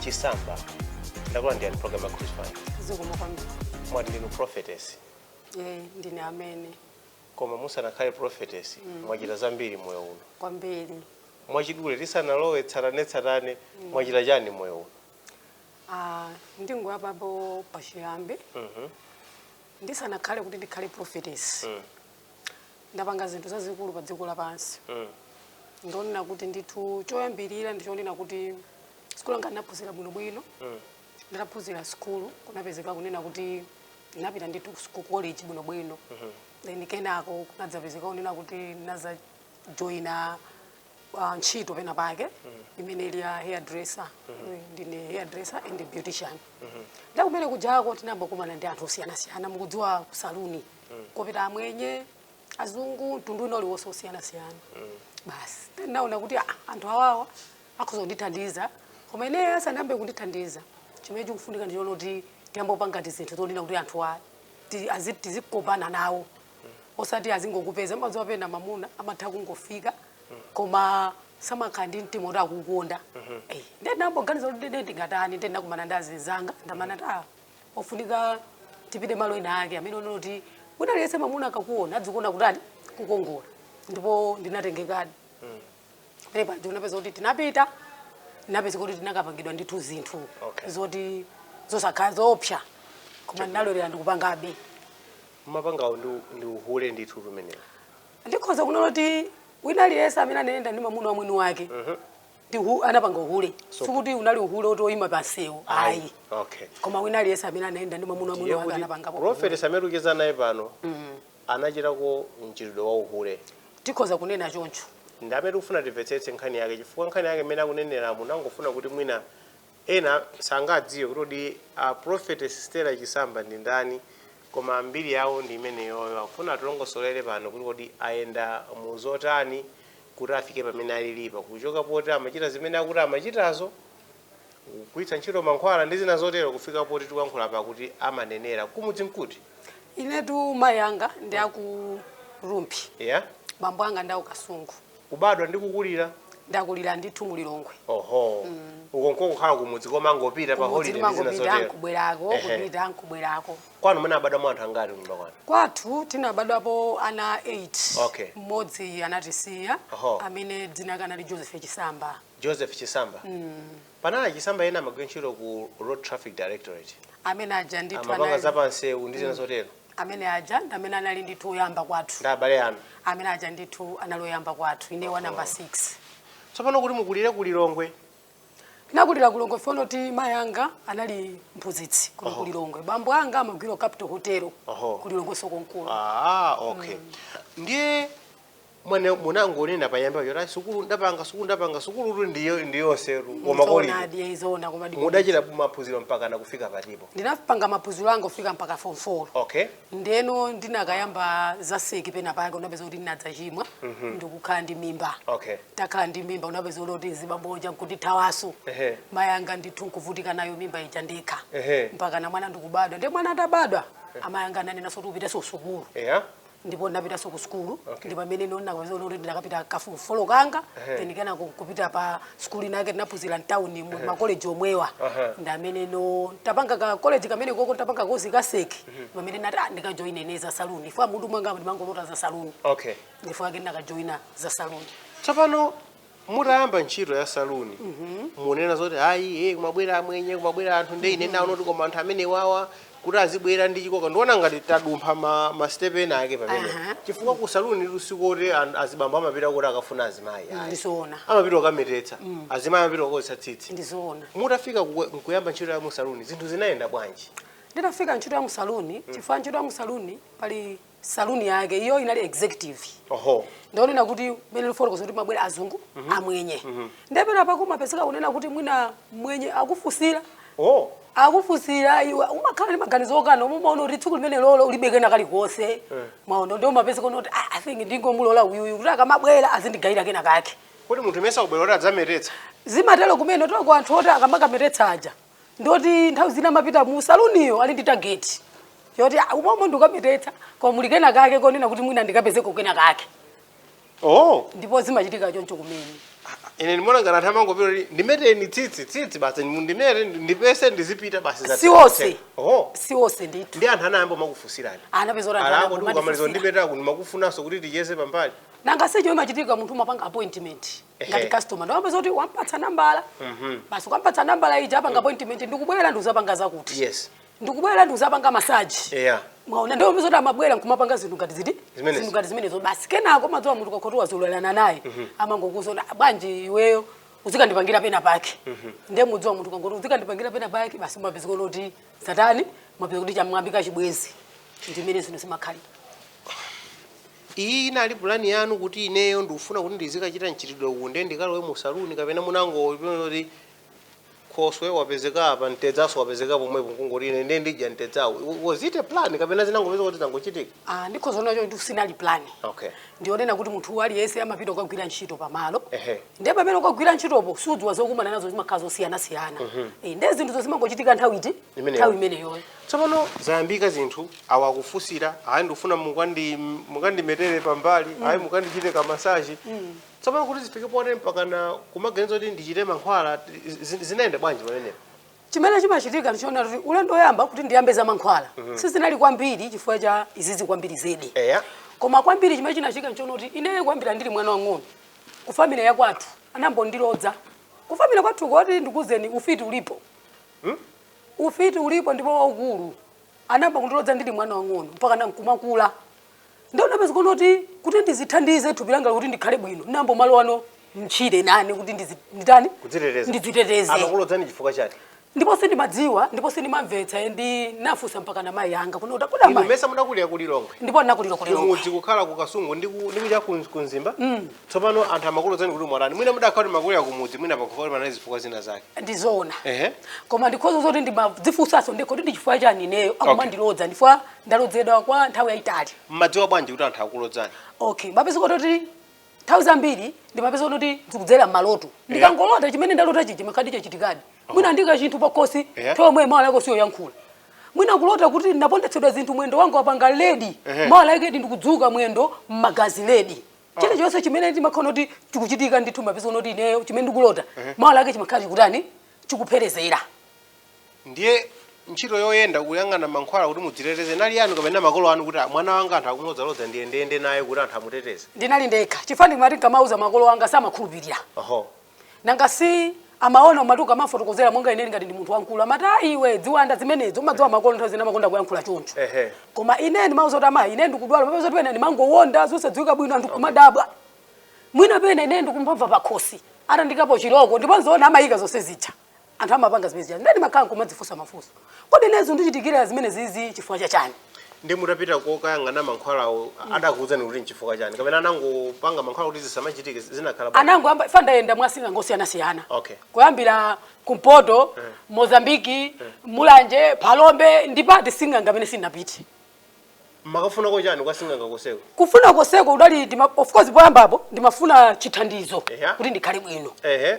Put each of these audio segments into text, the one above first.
chisamba takulandirani program ya Cruise 5 zikomo kwambiri mwati ndinu prophetess Eh, ndine amene koma musanakhale prophetess mwachita zambiri moyo uno kwambiri mwachidule tisanalowe tsatanetsatane mwachita chani moyo uno Ah, ndingoyambapo pachiyambi Mhm. ndisanakhale kuti ndikhale prophetess Mm. ndapanga zinthu zazikulu pa dziko lapansi mm. ndionena kuti ndithu choyambirira ndichonena kuti sikulu anga ndinaphunzira bwinobwino mm. nditaphunzira sikulu kunapezeka kunena kuti ndinapita ndithu ku college bwinobwino mm -hmm. then kenako kunadzapezeka kunena kuti ndinadzajoina uh, ntchito pena pake mm -hmm. imene ili ya hair dresser mm -hmm. ndine hair dresser and beautician mm -hmm. ndiye kumene kujako tinayamba kumakumana ndi anthu osiyanasiyana mukudziwa kusaluni mm. kopita Amwenye azungu mtundu wina uliwonse osiyanasiyana mm. basi ndinaona kuti ah, anthu awawa akhoza kundithandiza koma ineyo asanayambe kundithandiza chimene chikufunika ndi choti tiyambe kupanga tizinthu tolina kuti anthu a ti- azi- tizikopana nawo osati azingokupeza madziwa pena mamuna amatha kungofika koma samakhala ndi mtima kuti akukonda Eh, ndiye ndinayamba kuganiza kuti ndine ndingatani ndiye ndinakumana ndi azinzanga ndiye amanena kuti ta kufunika tipite malo ena ake amene onena kuti wina aliyense mamuna akakuona adzikuona kutani kukongola ndipo ndinatengekadi pamene paja kunapezeka kuti tinapita kunapezeka kuti tinakapangidwa ndithu zinthu Okay. zoti zosakhala zoopsa koma ndinalolera ndikupangabe kupangako ndi ndi uhule ndithu pamenepo ndikhoza kunena kuti wina aliyense amene anayenda ndi mamuna wamwini wake Ndithu anapanga uhule. So, Sikuti unali uhule oti oyima pansewu. Ayi. Okay. Koma wina aliyense amene anayenda ndi mwamuna wamwini wake anapanga. Prophetess amene tikucheza naye pano. Mm. Anachitako mchitidwe wa uhule. Tikhoza kunena choncho. Ndi amene tikufuna timvetsetse nkhani yake chifukwa nkhani yake mmene akuneneramo tinangofuna kuti mwina Ena sangadziwe kuti kodi a prophetess Stella Chisamba ndi ndani koma mbiri yawo ndi imeneyoyo. Akufuna atilongosolere pano kuti kodi ayenda mu zotani kuti afike pamene alilipa. Kuchoka poti amachita zimene akuti amachitazo, kugwiritsa ntchito mankhwala ndi zina zotero kufika poti tikuyankhula apa kuti amanenera. Kumudzi nkuti? Inetu mayi anga ndi aku Rumphi, Yeah? bambo anga ndi aku Kasungu. Kubadwa ndi kukulira? Ndakulira ndithu mu Lilongwe. Oho. Mm. Osakhalako kukhala kumudzi kumangopita pa holiday ndi zina zotero. Kumudzi kubwerako, kupita nkubwerako. Kwanu munabadwamo anthu angati kunyumba kwanu? Kwathu tinabadwapo ana 8. Okay. Mmodzi anatisiya amene dzina lake anali Joseph Chisamba. Joseph Chisamba. Mm. Panali a Chisamba ena amagwira ntchito ku Road Traffic Directorate. Amene aja ndithu Amapanga anali. zapansewu ndi zina mm. zotero. Amene aja ndi amene anali ndithu oyamba kwathu. Ndi abale anu. Amene aja ndithu anali oyamba kwathu. Ine wa number 6. Tsopano kuti mukulire ku Lilongwe. Nakulira ku Lilongwe poti mayi anga anali mphunzitsi ku oh. Lilongwe. Bambo anga amagwira Capital Hotel oh. ku Lilongwenso komkuno. Ah, okay. Mm. Ndiye Mwina munangonena poyamba paja sukulu ndapanga sukulu ndapanga sukulu tu ndiyo ndiyonse tu koma koli. Zoonadi, eh, zoona koma ndi- Mudachita maphunziro mpaka na kufika patipo. ndinapanga maphunziro anga kufika mpaka form 4 Okay. ndiyeno ndinakayamba zaseki pena pake mupeza kuti ndinadzachimwa ndikukhala ndi mimba Okay. nditakhala ndi mimba mupeza kuti azibambo aja nkundithawanso Ehe. mayi anga ndithu nkuvutika nayo mimba ija ndekha Ehe. mpaka na mwana ndikubadwa ndi mwana atabadwa amayi anga ananena zoti upitenso sukulu Yeah. ndipo ndinapitanso ku sukulu okay. ndipo pamene ndiye ndinakapeza kuti ndinakapita ka form 4 kanga hey. then kenaka kupita pa sukulu inake ndinaphunzira mu town mu hey. ma college omwewa uh -huh. ndi pameneno nditapanga ka college kamene koko nditapanga ka kozi ka sec mm -hmm. pamene nati ah, ndika joine za saloon chifukwa m'mutu mwanga ndimangolota za saloon okay nchifukwa chake ndinaka joina za saloon tsopano mutayamba ntchito ya saluni mukunena zoti ayi eh, kumabwera amwenye kumabwera anthu nde ine ndaona kuti koma anthu amene wawa kuti azibwera ndi chikoka ndiona ngati tadumpha ma, ma step ena ake pamene Aha. chifukwa ku saluni sikuti azibambo amapita kuti akafuna azimayi ayi. Ndizoona. amapita kukametetsa azimayi amapita kukonzetsa tsitsi ndizoona mutafika ku- nkuyamba ntchito ya musaluni zinthu zinayenda bwanji nditafika ntchito ya musaluni chifukwa ntchito ya musaluni pali saloon yake iyo inali executive oho ndanena kuti mene ndikufotokoza kuti amabwera azungu amwenye nde penapake umapezeka kunena kuti mwina mwenye akufunsira oh akufunsira iwe umakhala ndi maganizo okana koma umaona kuti tsiku limene lolo ulibe kena kalikonse mwaona ndiye umapezeka kunena kuti "Ah, i think ndingomulola uyuyu kuti akamabwera azindigayira kena kake kodi munthu mesa kubwera kuti adzametetsa zimatero kumene chifukwa anthu oti akamakametetsa aja ndoti nthawi zina amapita mu saluniyo ali ndi tageti yoti "Ah, umomo ndikukametetsa koma muli kena kake konena kuti mwina ndikapezeko kena kake oh ndipo zimachitika choncho kumene ine ndimaona ngati anthu amangopita kuti ndimeteni tsitsi tsitsi basi mundimete ndipese ndizipita basi za- Si onse. oh si onse ndithu ndi anthu anayamba makufunsirani mupeza kuti anthu akewo amayamba ndikukamaliza kumatifunsira. ndipeza kuti makufunanso kuti ticheze pambali nanga si choncho imachitika munthu umapanga appointment ngati customer ndiye umapeza kuti wampatsa nambala mhm. basi ukampatsa nambala ija apanga mm. appointment ndikubwera ndikuzapanga zakuti yes ndikubwera ndikuzapanga masaji yeah mwaona ndiye mupeza kuti amabwera nkumapanga zinthu ngati ziti zinthu ngati zimenezo basi kenako mudziwa munthu akakhoti wazolowerana naye mm -hmm. amangokuuza bwanji iweyo uzikandipangira pena pake mm -hmm. ndiye mudziwa munthu akangoti uzikandipangira pena pake basi mupeza kuti satana mupeza kuti chayambika chibwezi ndimene zinthu zimakhalira Iyi inali pulani yanu kuti ineyo ndikufuna kuti ndizikachita mchitidwe uwu nde ndikalowe mu saloon kapena munangoona kuti khoswe wapezeka apa mtedzaso wapezeka pomwepo nkungoti ine nde ndidya mtedzawo. Was it a plan kapena zinangopezeka kuti zangochitika? Ah, ndikhoza kunena zoti sinali pulani. Okay. Ndionena kuti munthu aliyense amapita kukagwira ntchito pamalo. Ehe. Nde pamene ukagwira ntchitopo sudziwa zokumana nazo zimakhala zosiyanasiyana. Eh, Nde zinthuzo zimangochitika nthawi iti? Imeneyo. nthawi imeneyoyo tsopano zayambika zinthu awa akufunsira ayi ndikufuna mukandi- mukandimetere pambali ayi mukandichite kamasaji tsopano kuti zifike pote mpakana kumaganiza kuti ndichite mankhwala zi- zinayenda bwanji pamenepo chimene chimachitika ndichonena kuti ulendo woyamba kuti ndiyambe za mankhwala sizinali kwambiri chifukwa cha izizi kwambiri zedi eya koma kwambiri chimene chinachitika ndichonena kuti ineyo kwambiri ndili mwana wang'ono ku family ya kwathu anambondilodza ku family kwathu kuti ndikuuzeni ufiti ulipo Hmm? Ufiti ulipo ndipo waukulu. Anambondilodza ndili mwana wang'ono mpakana nkumakula. Nde ndinapeza kuti kuti ndizithandize thupi langa kuti ndikhale bwino. Ndinamboomalowano mtchire nane kuti ndizi- nditani? Kudziteteza. Ndidziteteze. Amakulodzani chifukwa chani? ndipo sindimadziwa ndipo sindimamvetsa ndinafunsa mpakana mai anga kuno utakuda mai ndimayesa mudakulira ku Lilongwe ndipo ndinakulira ku Lilongwe mudzi kukhala ku Kasungu ndi ku ndi kuja ku Mzimba mm. Tsopano anthu amakulodzani kuti mwatani. Mwina mudakhala kuti munakulira kumudzi mwina pakufa kuti panali zifukwa zina zake. ndizoona Ehe. koma ndikhoza zoti ndimadzifunsanso ndekha kuti ndichifukwa chani ineyo akumandilodza chifukwa ndalodzedwa kwa nthawi yayitali Mmadziwa bwanji kuti anthu akulodzani? okay mapezeka kuti nthawi zambiri ndimapeza kuti zikudzera m'maloto ndikangolota chimene ndalota chija chimakhaladi chachitikadi mwina andiika chinthu pakhosi Yeah. nthawi yomweyo mawa lake osayankhula mwina kulota kuti ndapondetsedwa zinthu mwendo wanga wapanga ledi Ehe. mawa lake ndi ndikudzuka mwendo m'magazi ledi chilichonse chimene ndimaona kuti chikuchitika ndithu mapezeka kuti ineyo chimene ndikulota mawa lake chimakhala chikutani chikupherezera ndiye ntchito yoyenda kuyang'ana mankhwala kuti mudziteteze inali yanu kapena makolo anu kuti "Ah, mwana wanga anthu akumlodzalodza ndiye ndiyende naye kuti anthu amuteteze ndinali ndekha chifukwa ndimati nkamauza makolo anga samakhulupirira oho nanga si amaona umati ukamafotokozera monga ineyo ngati ndi munthu wamkulu amati "Ah, iwe dziwanda zimenezo umadziwa makolo nthawi zina amakonda kuyankhula choncho Ehe. koma ine ndimawauza kuti amayi ine ndikudwala mapezeka kuti pena ndimangowonda zosadziwika bwino anthu kumadabwa mwina pena ine ndikumamva pakhosi atandikapo chiloko ndipo nzoona amayika zonse zija anthu amapanga zimene zija nde ndimakhala kumadzifunsa mafunso kodi ine zondichitikira zimene zizi chifukwa cha chani nde mutapita kokayang'ana mankhwalawo adakuwuzani kuti nchifukwa chani kapena anangopanga mankhwala kuti zisamachitike zinakhala bwanji? anango amba chifukwa ndayenda mwa asing'anga osiyanasiyana Okay. kuyambira kumpoto mozambiki mulanje phalombe ndi pati sing'anga amene sindinapite mumakafunako chani kwa sing'anga koseko kufuna koseko udali ndima- of course poyambapo ndimafuna chithandizo Eya. kuti ndikhale bwino ehe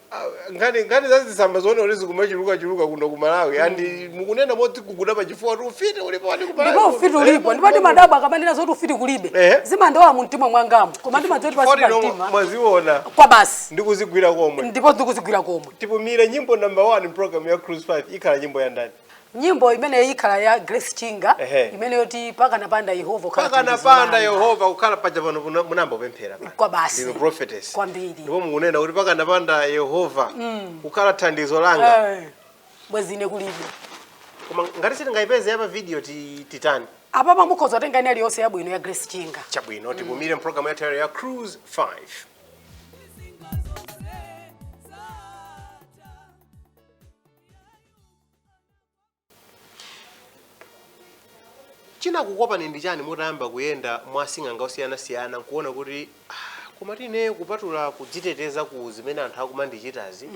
nkhani nkhani za zitsamba zoona kuti zikumachuluka chuluka kuno ku Malawi mm. andi mukunena moti kuguda pa chifuwa kuti ufiti ulipo wati ku Malawi ndipo ufiti ulipo ndipo ndimadabwa akamanena zoti ufiti kulibe eh? zimandiwawa mu mtima mwangamo koma ndimadziwa zoti pa mtima mwaziona kwa basi ndi kuzigwira komwe ndipo ndi kuzigwira komwe tipumire nyimbo number 1 program ya cruise 5 ikhala nyimbo ya ndani nyimbo imeneyo ikhala ya grace chinga Ehe. imene yoti pakanapanda yehova kukhala thandizo pakanapanda langa. yehova kukhala paja pano muna- munayamba kupemphera pano. Kwa basi. Ndinu prophetess Kwambiri. ndipo mukunena kuti pakanapanda yehova kukhala thandizo langa Eh, bwezi ine kulibe koma ngati sitingayipeze ya pa video ti- titani apa a mukhoza kutenga ina iliyonse yabwino ya grace chinga chabwino tipumire mpulogalamu yathu ya cruise 5 Single chinakukopani ndi chani mutayamba kuyenda mwa asing'anga osiyanasiyana nkuona kuti "Ah, komatu ine kupatula kudziteteza ku zimene anthu akumandichitazi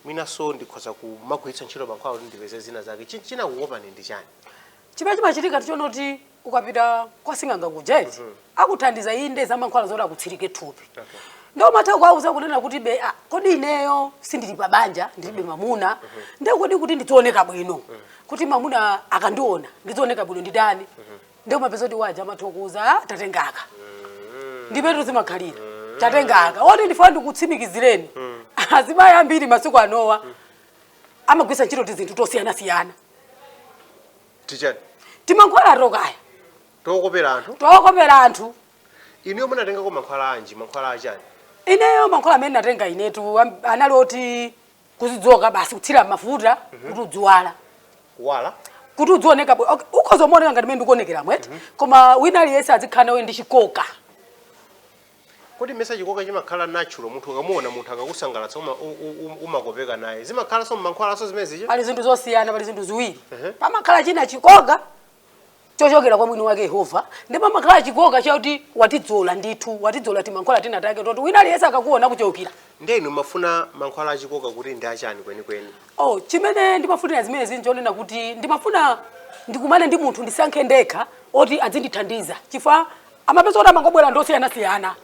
mwinanso ndikhoza kumagwiritsa ntchito mankhwala kuti ndipeze zina zake Chi- chinakukopani ndi chani chimene chimachitika n'chonena kuti ukapita kwa sing'anga kuja eti akuthandiza inde za mankhwala zoti akutsirike thupi ndiye umatha kuwauza kunena kuti be ah, kodi ineyo sindili pa banja ndilibe mamuna nde kodi kuti ndizioneka bwino kuti mamuna akandiona ndizioneka bwino nditani ndiye umapeza kuti waja amatha kukuuza "Ah, tatengaka ndipetu zimakhalira tatengaka oti ndifuna ndikutsimikizireni azimayi ambiri masiku anowa amagwisa ntchito tizinthu tosiyanasiyana tichani timankhwala tokaya tokopera anthu tokopera anthu inuyo munatengako mankhwala anji mankhwala achani ineyo mankhwala amene natenga inetu am- anali oti kuzidzola basi kuthira mmafuta kuti udziwala kuwala kuti udzioneka bwino okay, ukhoza kumaoneka ngati mene ndikuonekeramu eti koma wina aliyense azikhala nawe ndi chikoka Kodi mesa chikoka chimakhala natural munthu ukamuona munthu akakusangalatsa uma, u, u, u, umakopeka naye zimakhalanso mmankhwalanso zimene zija pali zinthu zosiyana pali zinthu ziwiri Ehe. pamakhala china chikoka chochokera kwa mwini wake yehova ndipo pamakhala chikoka chakuti watidzola ndithu watidzola timankhwala tina take toti wina aliyense akakuona kuchokera ndiye inu mumafuna mankhwala achikoka kuti ndi chani kwenikweni oh chimene ndimafunira zimenezi nchonena kuti ndimafuna ndikumane ndi munthu ndisankhe ndekha oti adzindithandiza chifukwa umapeza kuti amangobwera ndi osiyanasiyana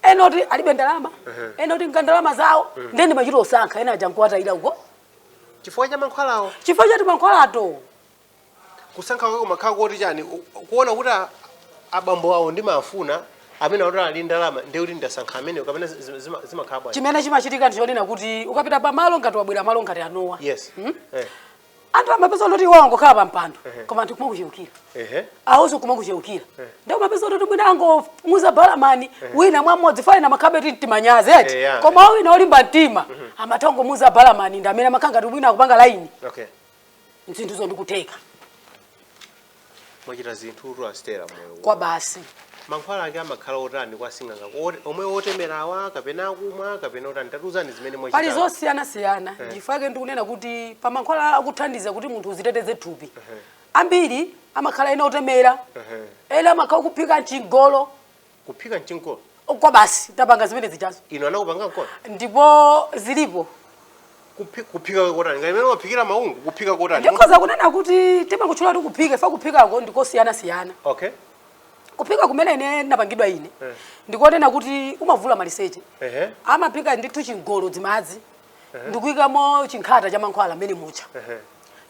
ena oti alibe ndalama ena oti nga ndalama zawo ndiye ndimachita kusankha ena aja nkuwatayira uko chifukwa cha mankhwalawo chifukwa cha timankhwalato kusankha kwake kumakhala kuti chani U- kuona kuti a- abambo awo ndimafuna amene akuti ali ndalama ndiye kuti ndasankha ameneyo kapena zi- zima- zimakhala bwanji chimene chimachitika ndichonena kuti ukapita pamalo ngati wabwera malo ngati anowa yes Eh. umapeza kuti iwo angokhala pa mpando koma anthu kumakucheukira awonso kumakucheukira ndiye umapeza kuti mwina angomuuza balamani wina mwammodzi fa amakhalabe ndi timanyazi eti Eh, yeah. koma wina olimba mtima amatha kungomuuza balamani ndi amene amakhala ngati mwina akupanga laini okay zinthuzo ndi kutheka mwachita zinthu Stella moyo kwa basi mankhwala ake amakhala otani kwa sing'anga Ot- omwe otemerawa kapena akumwa kapena otani tatuzani zimene mwachita pali zosiyanasiyana chifukwa chake ndikunena kuti pa mankhwala akuthandiza kuti munthu uziteteze thupi ambiri amakhala ena otemera ena amakhala kuphika mchingolo kuphika mchingolo kwa basi tapanga zimene zijazo inu anakuphikani mchingolo ndipo zilipo Kuphi- kuphika kotani ngati mmene umaphikira maungu kuphika kotani ndikhoza kunena kuti timangotchula kuti kuphika fa kuphikako ndikosiyanasiyana okay kuphika kumene ine napangidwa ine Eh. ndikonena kuti umavula maliseche ehe amaphika ndithu chingolo dzimadzi ndikuyikamo chinkhata cha mankhwala mmene mucha ehe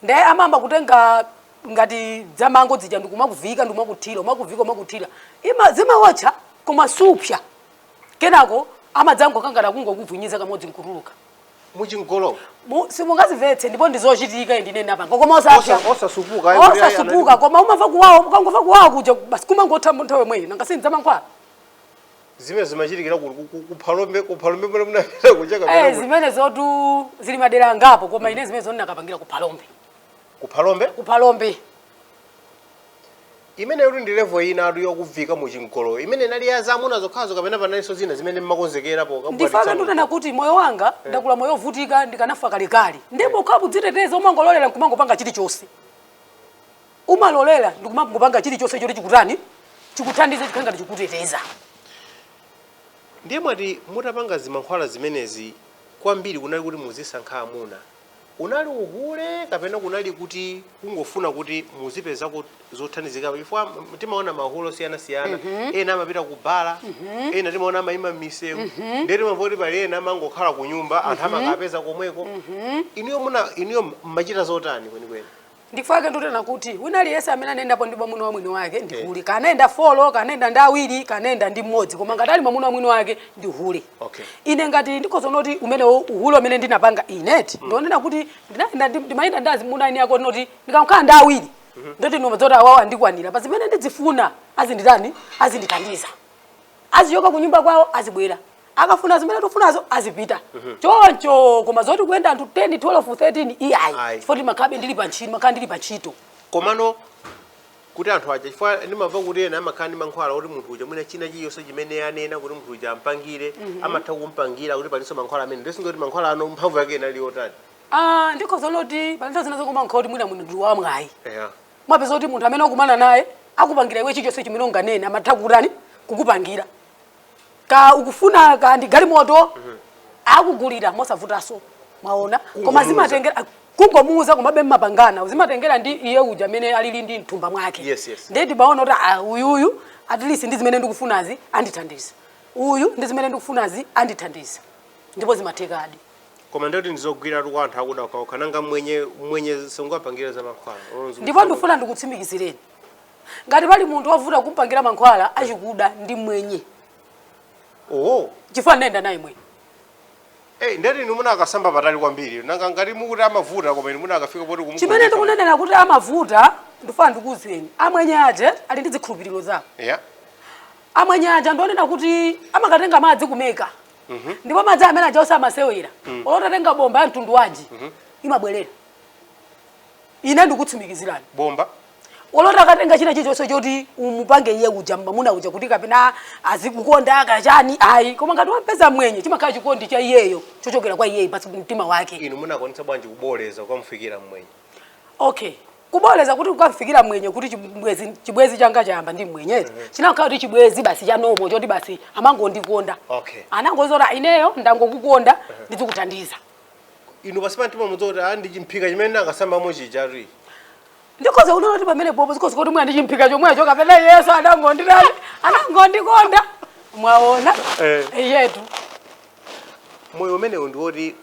nde amamba kutenga ngati dzamango dzija ndikumakuviika ndikumakuthira umakuviika umakuthira ima zimaotcha koma supsa kenako amadzangokunyamula kungokuvinyiza kamodzi nkutuluka muchingolomo Mu- simungazimvetse ndipo ndizochitika ndine ndinapanga koma Osa- osapsa osasupuka ayi, kuti ayi, osasupuka koma umamva kuwawa ukangomva kuwawa kuja basi kumangothano nthawi yomweyo nanga si ndi zamankhwala zimenezi zimachitikira ku- ku- ku- kuphalombe kuphalombe mene munapita kuja Eh, kapena ku- zimenezotu zili madera angapo koma ine zimenezo ndinakapangira ku phalombe kuphalombe ku phalombe imeneyotu ndi level inatu yokuvika mu chingoloyo imeneyi inali ya zamuna zokhazo kapena panalinso zina zimene mmakonzekerapo nchifukwa chake pokabwatitsa ndunena kuti moyo wanga ndakula moyo wovutika ndikanafa kalekale ndipo ukhalapo kudziteteza umangololera nkumangopanga chilichonse umalolera ndi kumangopanga chilichonse choti chikutani chikuthandize chikhale ngati chikuteteza ndiye mwati mutapanga zimankhwala zimenezi kwambiri kunali kuti muzisankha amuna unali uhule kapena kunali kuti kungofuna kuti muzipezako zothandizika chifukwa m- timaona mahule osiyanasiyana ena amapita ku bala ena timaona amaima m'misewu ndiye timamva kuti pali ena amangokhala ku nyumba anthu amakapeza komweko inuyo muna inuyo mmachita zotani kwenikweni ndifake ndunena kuti wina aliyense amene anayendapo ndi mwamuna wa mwini wake ndi eh. hule kanayenda folo kanayenda ndi awiri kanayenda ndi mmodzi koma ngati ali mwamuna wa mwini wake ndi hule okay. ine ngati ndikhoza noti umene uhule umene ndinapanga ineti mm. ndionena kuti ndimayenda ndi azimuna a eniake noti ndikakhala ndi awiri mm -hmm. ndoti ndimadziwa zoti awawo andikwanira pa zimene ndidzifuna azinditani azindithandiza azichoka kunyumba kwawo uzibwera akafuna zimene tufunazo azipita mhm. choncho koma zoti kuyenda anthu 10 12 13 iyayi chifukwa ndimakhalabe ndili pa ntchito mmakhala ndili pa ntchito komano kuti anthu aja chifukwa ndimamva kuti ena amakhala ndi mankhwala kuti munthu uja mwina china chiyonse chimene anena kuti munthu uja ampangire mhm. amatha kumpangira kuti palinso mankhwala amene ndisinganene kuti mankhwala ano mphamvu yake inali yotani ah, ndiye zoona kuti palinso zina zokumankha kuti mwina munthu wamwayi umapeza kuti munthu amene akumana naye akupangira iwe chichonse chimene unganene amatha kutani kukupangira kaya ukufuna kaya ndi galimoto mhm. akugulira mosavutaso mwaona koma zimatengera ah, kungomuuza komabe mmapangana zimatengera ndi iye uja amene alili ndi m'thumba mwake yes, yes. ndiye ndimaona kuti ah, uyuyu at least ndi zimene ndikufunazi andithandiza uyu ndi zimene ndikufunazi andithandiza ndipo zimathekadi koma ndoti zogwiratu kwa anthu akuda okhaokha nanga mwenye mwenye sungapangire za mankhwala ndipo ndifuna ndikutsimikizireni ngati pali munthu wovuta kumpangira mankhwala achikuda ndi mwenye oho chifukwa ndayenda naye mwenye Hey, eh, ndati inu munakasamba patali kwambiri nanga ngati mukuti amavuta koma inu munakafika poti kumukonda chimene ndikunenera kuti amavuta ndifuna ndikuuzeni amwenye aja ali ndi zikhulupiriro zawo yeah. amwenye aja ndi onena kuti amakatenga madzi ku Mecca Mhm. ndipo madzi amene aja osamasewera mm. olo utatenga bomba ya mtundu wanji mhm. imabwerera ine ndikutsimikizirani bomba olo utakatenga china chilichonse choti umupange iye uja mamuna uja kuti kapena azikukonda kaya chani ayi koma ngati wampeza mwenye chimakhala chikondi cha iyeyo chochokera kwa iyeyo pasi pa mtima wake inu munakwanitsa bwanji kuboleza kukamufikira mwenye okay kuboleza kuti kukamfikira mwenye kuti chibwezi chibwezi changa chayamba ndi mwenye mm -hmm. chinakhala kuti chibwezi basi chanomo choti basi amangondikonda okay. anangoti ineyo ndangokukonda mm -hmm. ndizikuthandiza inu basi pamtima mukuti ah, ndi chimphika chimene ndinakasamba mochichari ndikhoza kuona kuti pamene popo zikhoza kuti mwina chimphika chomwecho kapena yesu anangondi anangondikonda mwaona eh. yetu moyo umenewu ndi woti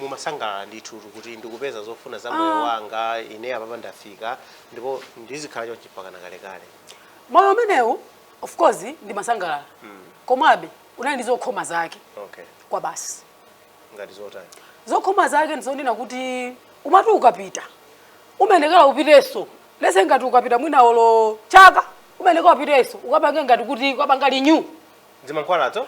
mumasangalala ndithu kuti ndikupeza zofuna za moyo Ah. wanga ine apapa ndafika ndipo ndizikhala chonchi mpakana kalekale moyo umenewu of course ndimasangalala komabe unali ndi zokhoma zake okay kwabasi ngati zotani zokhoma zake ndizonena kuti umati ukapita umafunikira upitenso let's say ngati ukapita mwina olo chaka umafunikira upitenso ukapange ngati kuti ukapanga renew zimankhwalazo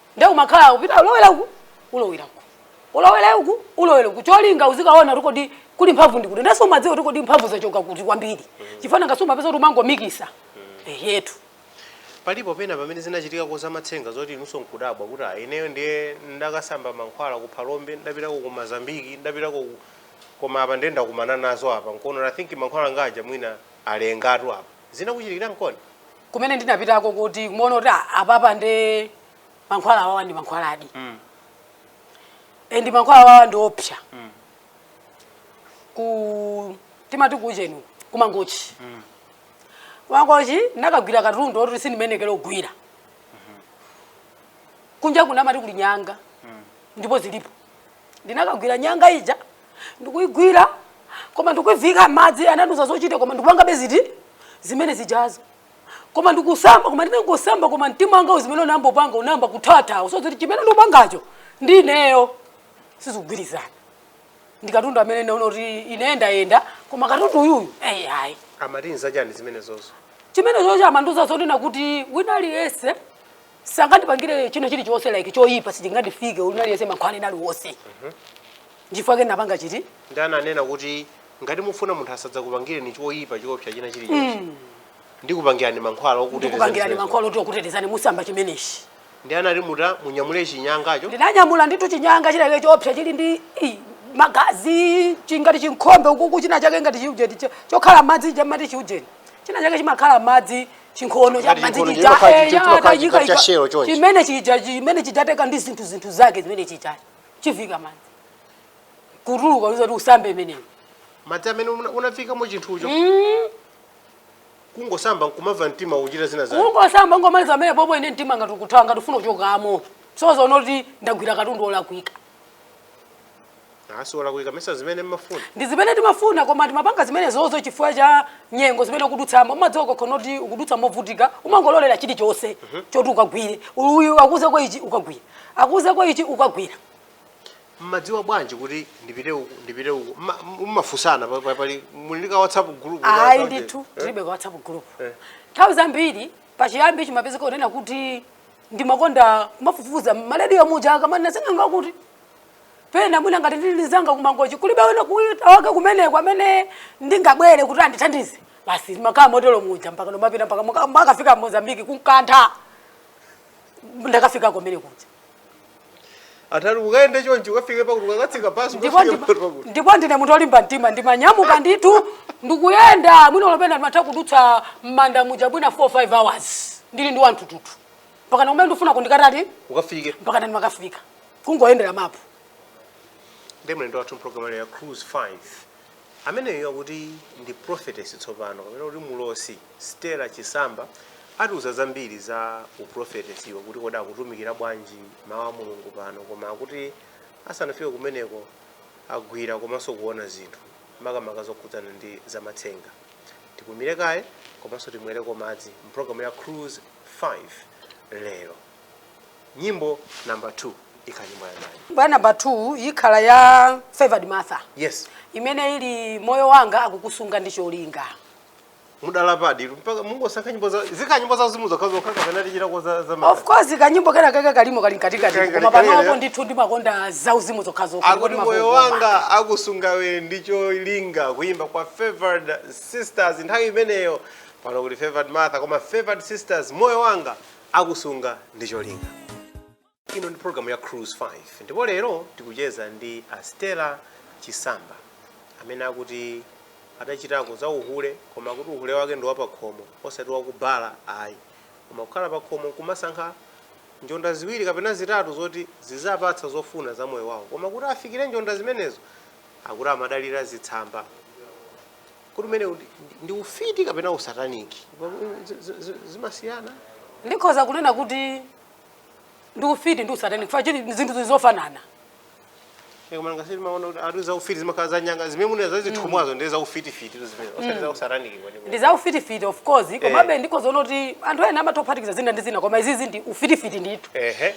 nde umakhala upita ulowera uku ulowera uku ulowere uku ulowere uku cholinga uzikaona kuti kodi kuli mphamvu ndi kuti ndenso umadziwa kuti kodi mphamvu zachoka kuti kwambiri chifukwa ngati umapeza kuti umangomikisa ehetu palipo pena pamene zinachitika ko za matsenga zoti inunso nkudabwa kuti ah, ineyo ndiye ndakasamba mankhwala ku phalombe ndapitako ku Mozambiki ndapitako ku- koma apa ndiye ndakumana nazo apa nkuona i think mankhwala anga aja mwina alekatu apa zinakuchitikira nkoni kumene ndinapitako kuti kumaona kuti "Ah, apapa nde mankhwala awawa ndi mankhwaladi Mm. and mankhwala awawa ndi oopsa Mm. ku timati kuujeni ku Mangochi Mm. ku Mangochi ndinakagwira katundu oti sindimayenekera kugwira kunja kunamati kuli nyanga Mm. ndipo zilipo ndinakagwira nyanga ija ndikuigwira koma ndikuiviika m'madzi anandiuza zochita koma ndikupangabe ziti zimene zijazo koma ndikusamba koma ndinangosamba koma mtima wanga zimene unayamba kupanga unayamba kuthawathawa so zoti chimene ndikupangacho ndi ineyo sizikugwirizana ndi katundu amene naona kuti ine ndayenda koma katundu uyuyu eyi ayi amati nzachani zimenezozo chimenechocho amandiuza zonena kuti wina aliyense sangandipangire china chilichonse like choyipa sichingandifike wina aliyense mankhwala ena aliwonse chifukwa chake napanga chiti ndi ananena kuti ngati mufuna munthu asadzakupangireni choyipa choopsa china chilichonse ndikupangirani mankhwala ndikupangirani okutetezani mankhwala oti okutetezani musamba chimenechi ndi anati muta munyamule chinyangacho ndinanyamula nditu chinyanga chinachake choopsa chili ndi i, magazi chingati chikhombe ukuku china chake ngati chiujeni cho- chokhala m'madzi chamati chiujeni china chake chimakhala m'madzi chinkhono cha Ngati m'madzi chinkhono chija chimakhala chi- eya chimakhala tayika chija cha shelo chonchi. chimene chija chimene chidateka ndi zinthu zinthu zake zimene chija chiviika m'madzi kutuluka uzati usambe imeneyo madzi amene una- unaviikamo chinthucho kungosamba nkumamva mtima uchita zina zake kungosamba kungomaliza pamenepopo ine mtima ngati ukuthawa ngati ufuna kuchokamo so zonena kuti ndagwira katundu olakwika asiwala kuika mesa zimene mmafuna ndi zimene timafuna koma timapanga zimenezozo chifukwa cha nyengo zimene ukudutsamo umadziwa ukakhala kuti ukudutsa movutika umangololera chilichonse mhm. choti ukagwire uyu akuuzako ichi ukagwira akuuzako ichi ukagwira mmadziwa bwanji kuti ndipite uku ndipite uku mmafunsana pali muli ndi ka whatsapp group ayi ndithu eh? tilibe ka whatsapp group eh. nthawi zambiri pachiyambi chimapezeka kunena kuti ndimakonda kumafufuza m'malediyo muja akamanena sing'anga kuti pena mwina ngati ndili ndi nzanga ku Mangochi kulibe wina kuita wake kumeneko amene ndingabwere kuti andithandize basi ndimakhala motero muja mpakana kumapita mpaka muka- makafika Mozambique ku Nkhata ndakafika kumene kuja atati ukayende chonchi ukafike pakuti ukatsika basi ndipo ukafike ndipo- pakuti ndipo ndine munthu olimba mtima ndimanyamuka ndithu ndikuyenda mwina olo pena ndimatha kudutsa m'manda muja mwina 4 5 hours ndili ndi wa nthuthuthu mpakana kumene ndifuna kundikatati ukafike mpakana ndimakafika kungoyendera mapu ndi mlendo wathu mpulogalamu ya cruise 5 amenewa akuti ndi prophetess tsopano kapena kuti mulosi stela chisamba atiuza zambiri za uprofetesiwo kuti kodi akutumikira bwanji mawu a mulungu pano koma akuti asanafike kumeneko agwira komanso kuona zinthu makamaka zokhudzana ndi zamatsenga tipumire kaye komanso timwereko madzi mpulogalamu ya cruise 5 lero nyimbo number 2 ikhala nyimbo ya ndani nyimbo ya number 2 ikhala ya favored martha yes imene ili moyo wako akukusunga ndi cholinga mudalapadi mpaka mungosankha nyimbo za zikhala nyimbo za uzimu zokhazokha kapena tichitako za za of course kanyimbo kena keke kalimo kali mkatikati Kali- koma kali- panopo kali- ndithu ndimakonda za uzimu zokhazokha akuti moyo wanga akusungawe ndi cholinga kuyimba kwa favored sisters nthawi imeneyo pano kuti favored martha koma favored sisters moyo wanga akusunga ndi cholinga ino ndi program ya cruise 5 ndipo lero tikucheza ndi a stella chisamba amene akuti adachitako za uhule koma kuti uhule wake ndi wapakhomo osati wakubala ayi koma kukhala pakhomo kumasankha njonda ziwiri kapena zitatu zoti ziziwapatsa zofuna za moyo wawo koma kuti afikire njonda zimenezo akuti amadalira zitsamba kodi umene ndi- ndi ufiti kapena usataniki Z- z- z- zimasiyana ndikhoza kunena kuti ndi ufiti ndi usatani chifukwa chili zinthu ndi zofanana koma ngati ine ndimaona kuti ati za ufiti zimakhala za nyanga zimene mukunena zazithumwazo ndi za ufitifiti zimene osati za usataniki kwenikweni ndi za ufitifiti of course komabe ndikhoza kuti anthu ena amangophatikiza zina ndi zina koma izizi ndi ufitifiti ndithu ehe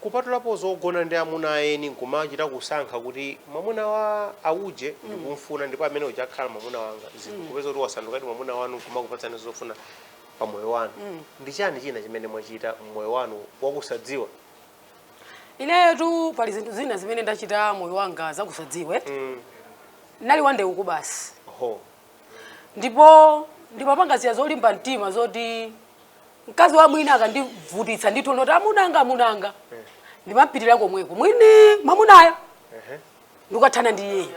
Kupatulapo zogona ndi amuna a eni nkumachita kusankha kuti mwamuna wa auje ndikumfuna ndipo ameneuja akhala mwamuna wanga zinthu kupeza kuti wasandukadi mwamuna wanu nkumakupatsani zofuna pa moyo wanu ndi chani china chimene mwachita mmoyo wanu wakusadziwa Ineyotu pali zinthu zina zimene ndachita moyo wanga zakusadziwa. Ndinali wa ndewu basi. ho Ndipo ndimapanga zija zolimba mtima zoti mkazi wa mwini akandivutitsa ndithu ndi zoti amunanga amunanga ndimapitira komweko mwini mwamunayo ndikukathana ndi iyeyo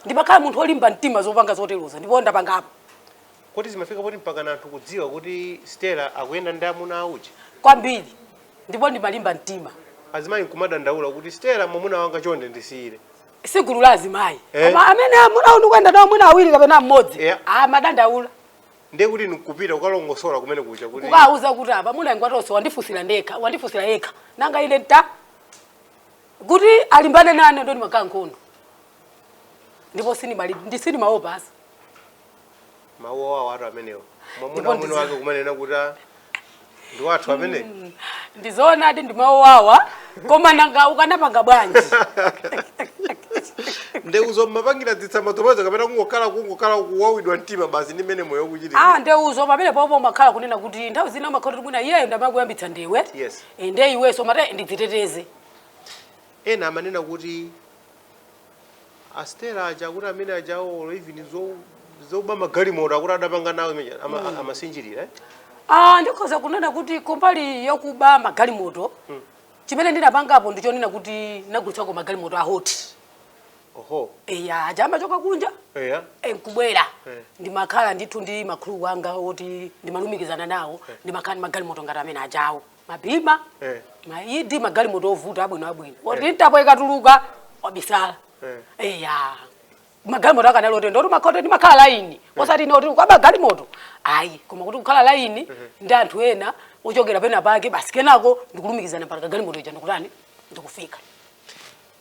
ndimakhala munthu olimba mtima zopanga zoterozo ndipo ndapangapo kuti zimafika poti mpaka na anthu kudziwa kuti stela akuyenda ndi amuna a uje kwambiri ndipo ndimalimba mtima azimayi nkumadandaula kuti stela mwamuna wanga chonde ndisiyire si gulu la azimayi Eh. koma amene amuna ndikuyenda nawo mwina awiri kapena mmodzi Yeah. amadandaula ndiye kuti ndikupita kukalongosola kumene kuja kuti kukawuza kuti apa mwamuna ngwatonse wandifunsira ndekha wandifunsira yekha nanga ine nta kuti alimbane nane ndo ndimakhala nkhondo ndipo sinimali ndi sinimaopa basi mawu awotu amenewo mwamuna Ndipo wamwini ndizi- wake kumanena kuti ah, ndi wathu amene ndizoonadi ndi mawu owawa koma nanga ukanapanga bwanji ndeuzo mmapangira dzitsamba tomwezo kapena kungokhala kungokhala kuwawidwa mtima basi ndi mmene moyo ukuchitika ah ndeuzo pamene popo umakhala kunena kuti nthawi zina umakhala kuti mwina iyeyo ndi amakuyamba ndewu Yes. Eh, nde iwenso umati ndidziteteze ena amanena kuti A Stella aja akuti amene ajawo olo even zo zoba magalimoto akuti adapanga nawo imeja ama, mm. amasinjirira eh? Ah, ndikhoza kunena kuti kumbali yokuba magalimoto mm. chimene ndinapangapo ndichonena kuti ndagulitsako magalimoto a hoti oho eya aja amachoka kunja eya eh, nkubwera eh. ndimakhala ndithu ndi akuluakulu anga oti ndimalumikizana nawo eh. ndimakhala ndi magalimoto ngati amene ajawo ma BMW eh. maAudi magalimoto ovuta abwino abwino oti eh. mtapo ikatuluka wabisala eh. eya magalimoto akanali oterowo ndimakhala laini eh. osati ndi oti kuba galimoto ayi koma kuti kukhala laini eh. ndi anthu ena ochokera pena pake basi kenako ndikulumikizana mpaka galimoto ija ndikutani ndikufika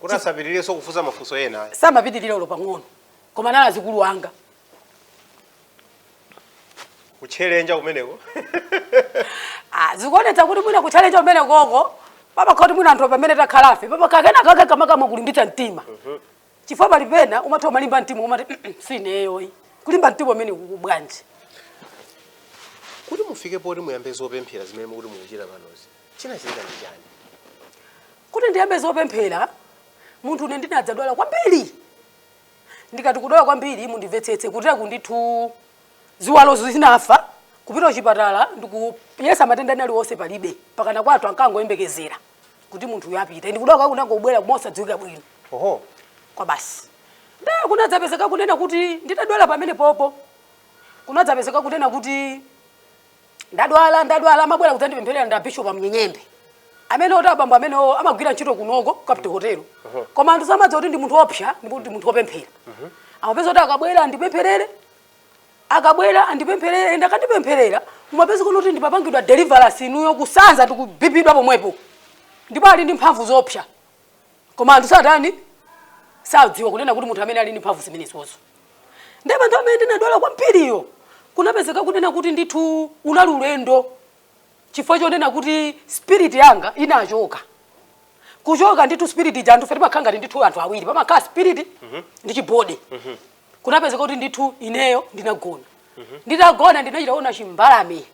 kuti asapitirirenso kufunsa mafunso ena ayi. samapitirira olo pang'ono koma anali azikulu anga kuchenjera kumeneko Ah, zikuonetsa kuti mwina kuchenjera kumenekoko pamakhala kuti mwina anthu pamene takhalafe pamakhala kena kake kamene kulimbitsa mtima chifukwa pali pena umatha umalimba mtima umati "Mm, mm, si ineyoyi kulimba mtima kumeneko bwanji kuti mufike poti muyambe zopemphera zimene mukuti mukuchita panozi chinachitika ndi chani kuti ndiyambe zopemphera munthune ndinadzadwala kwambiri ndikati kudwala kwambiri mundimvetsetse kuti ayi ndithu ziwalo zinafa kupita kuchipatala ndikuyesa matenda ena aliwonse palibe pakana kwathu ankangoyembekezera kuti munthuyo apita ndi kudwala kunangobwera mosadziwika bwino oho kwa basi nde kunadzapezeka kunena kuti nditadwala pamene popo kunadzapezeka kunena kuti ndadwala ndadwala amabwera kudzandipempherera ndi a bishop a Mnyenyembe amene oti abambo amenewo amagwira ntchito kunoko Capital Hotel koma anthu samadziwa kuti ndi munthu oopsa ndipo ndi munthu opemphera amapezeka kuti akabwera andipempherere akabwera andipempherere and akandipempherera mumapezeka kuti ndimapangidwa deliverance inuyo kusanza ndi kubibidwa pomwepo ndipo ali ndi mphamvu zoopsa koma anthu satani? sadziwa kunena kuti munthu amene ali ndi mphamvu zimenezozo ndiye panthawi imene ndinadwala kwambiriyo kunapezeka kunena kuti ndithu unali ulendo chifukwa chonena kuti spirit yanga inachoka kuchoka ndithu spirit ija anthu fe timakhala ngati ndithu anthu awiri pamakhala spirit ndi chibody kunapezeka kuti ndithu ineyo ndinagona nditagona ndinachita kuona chimbalame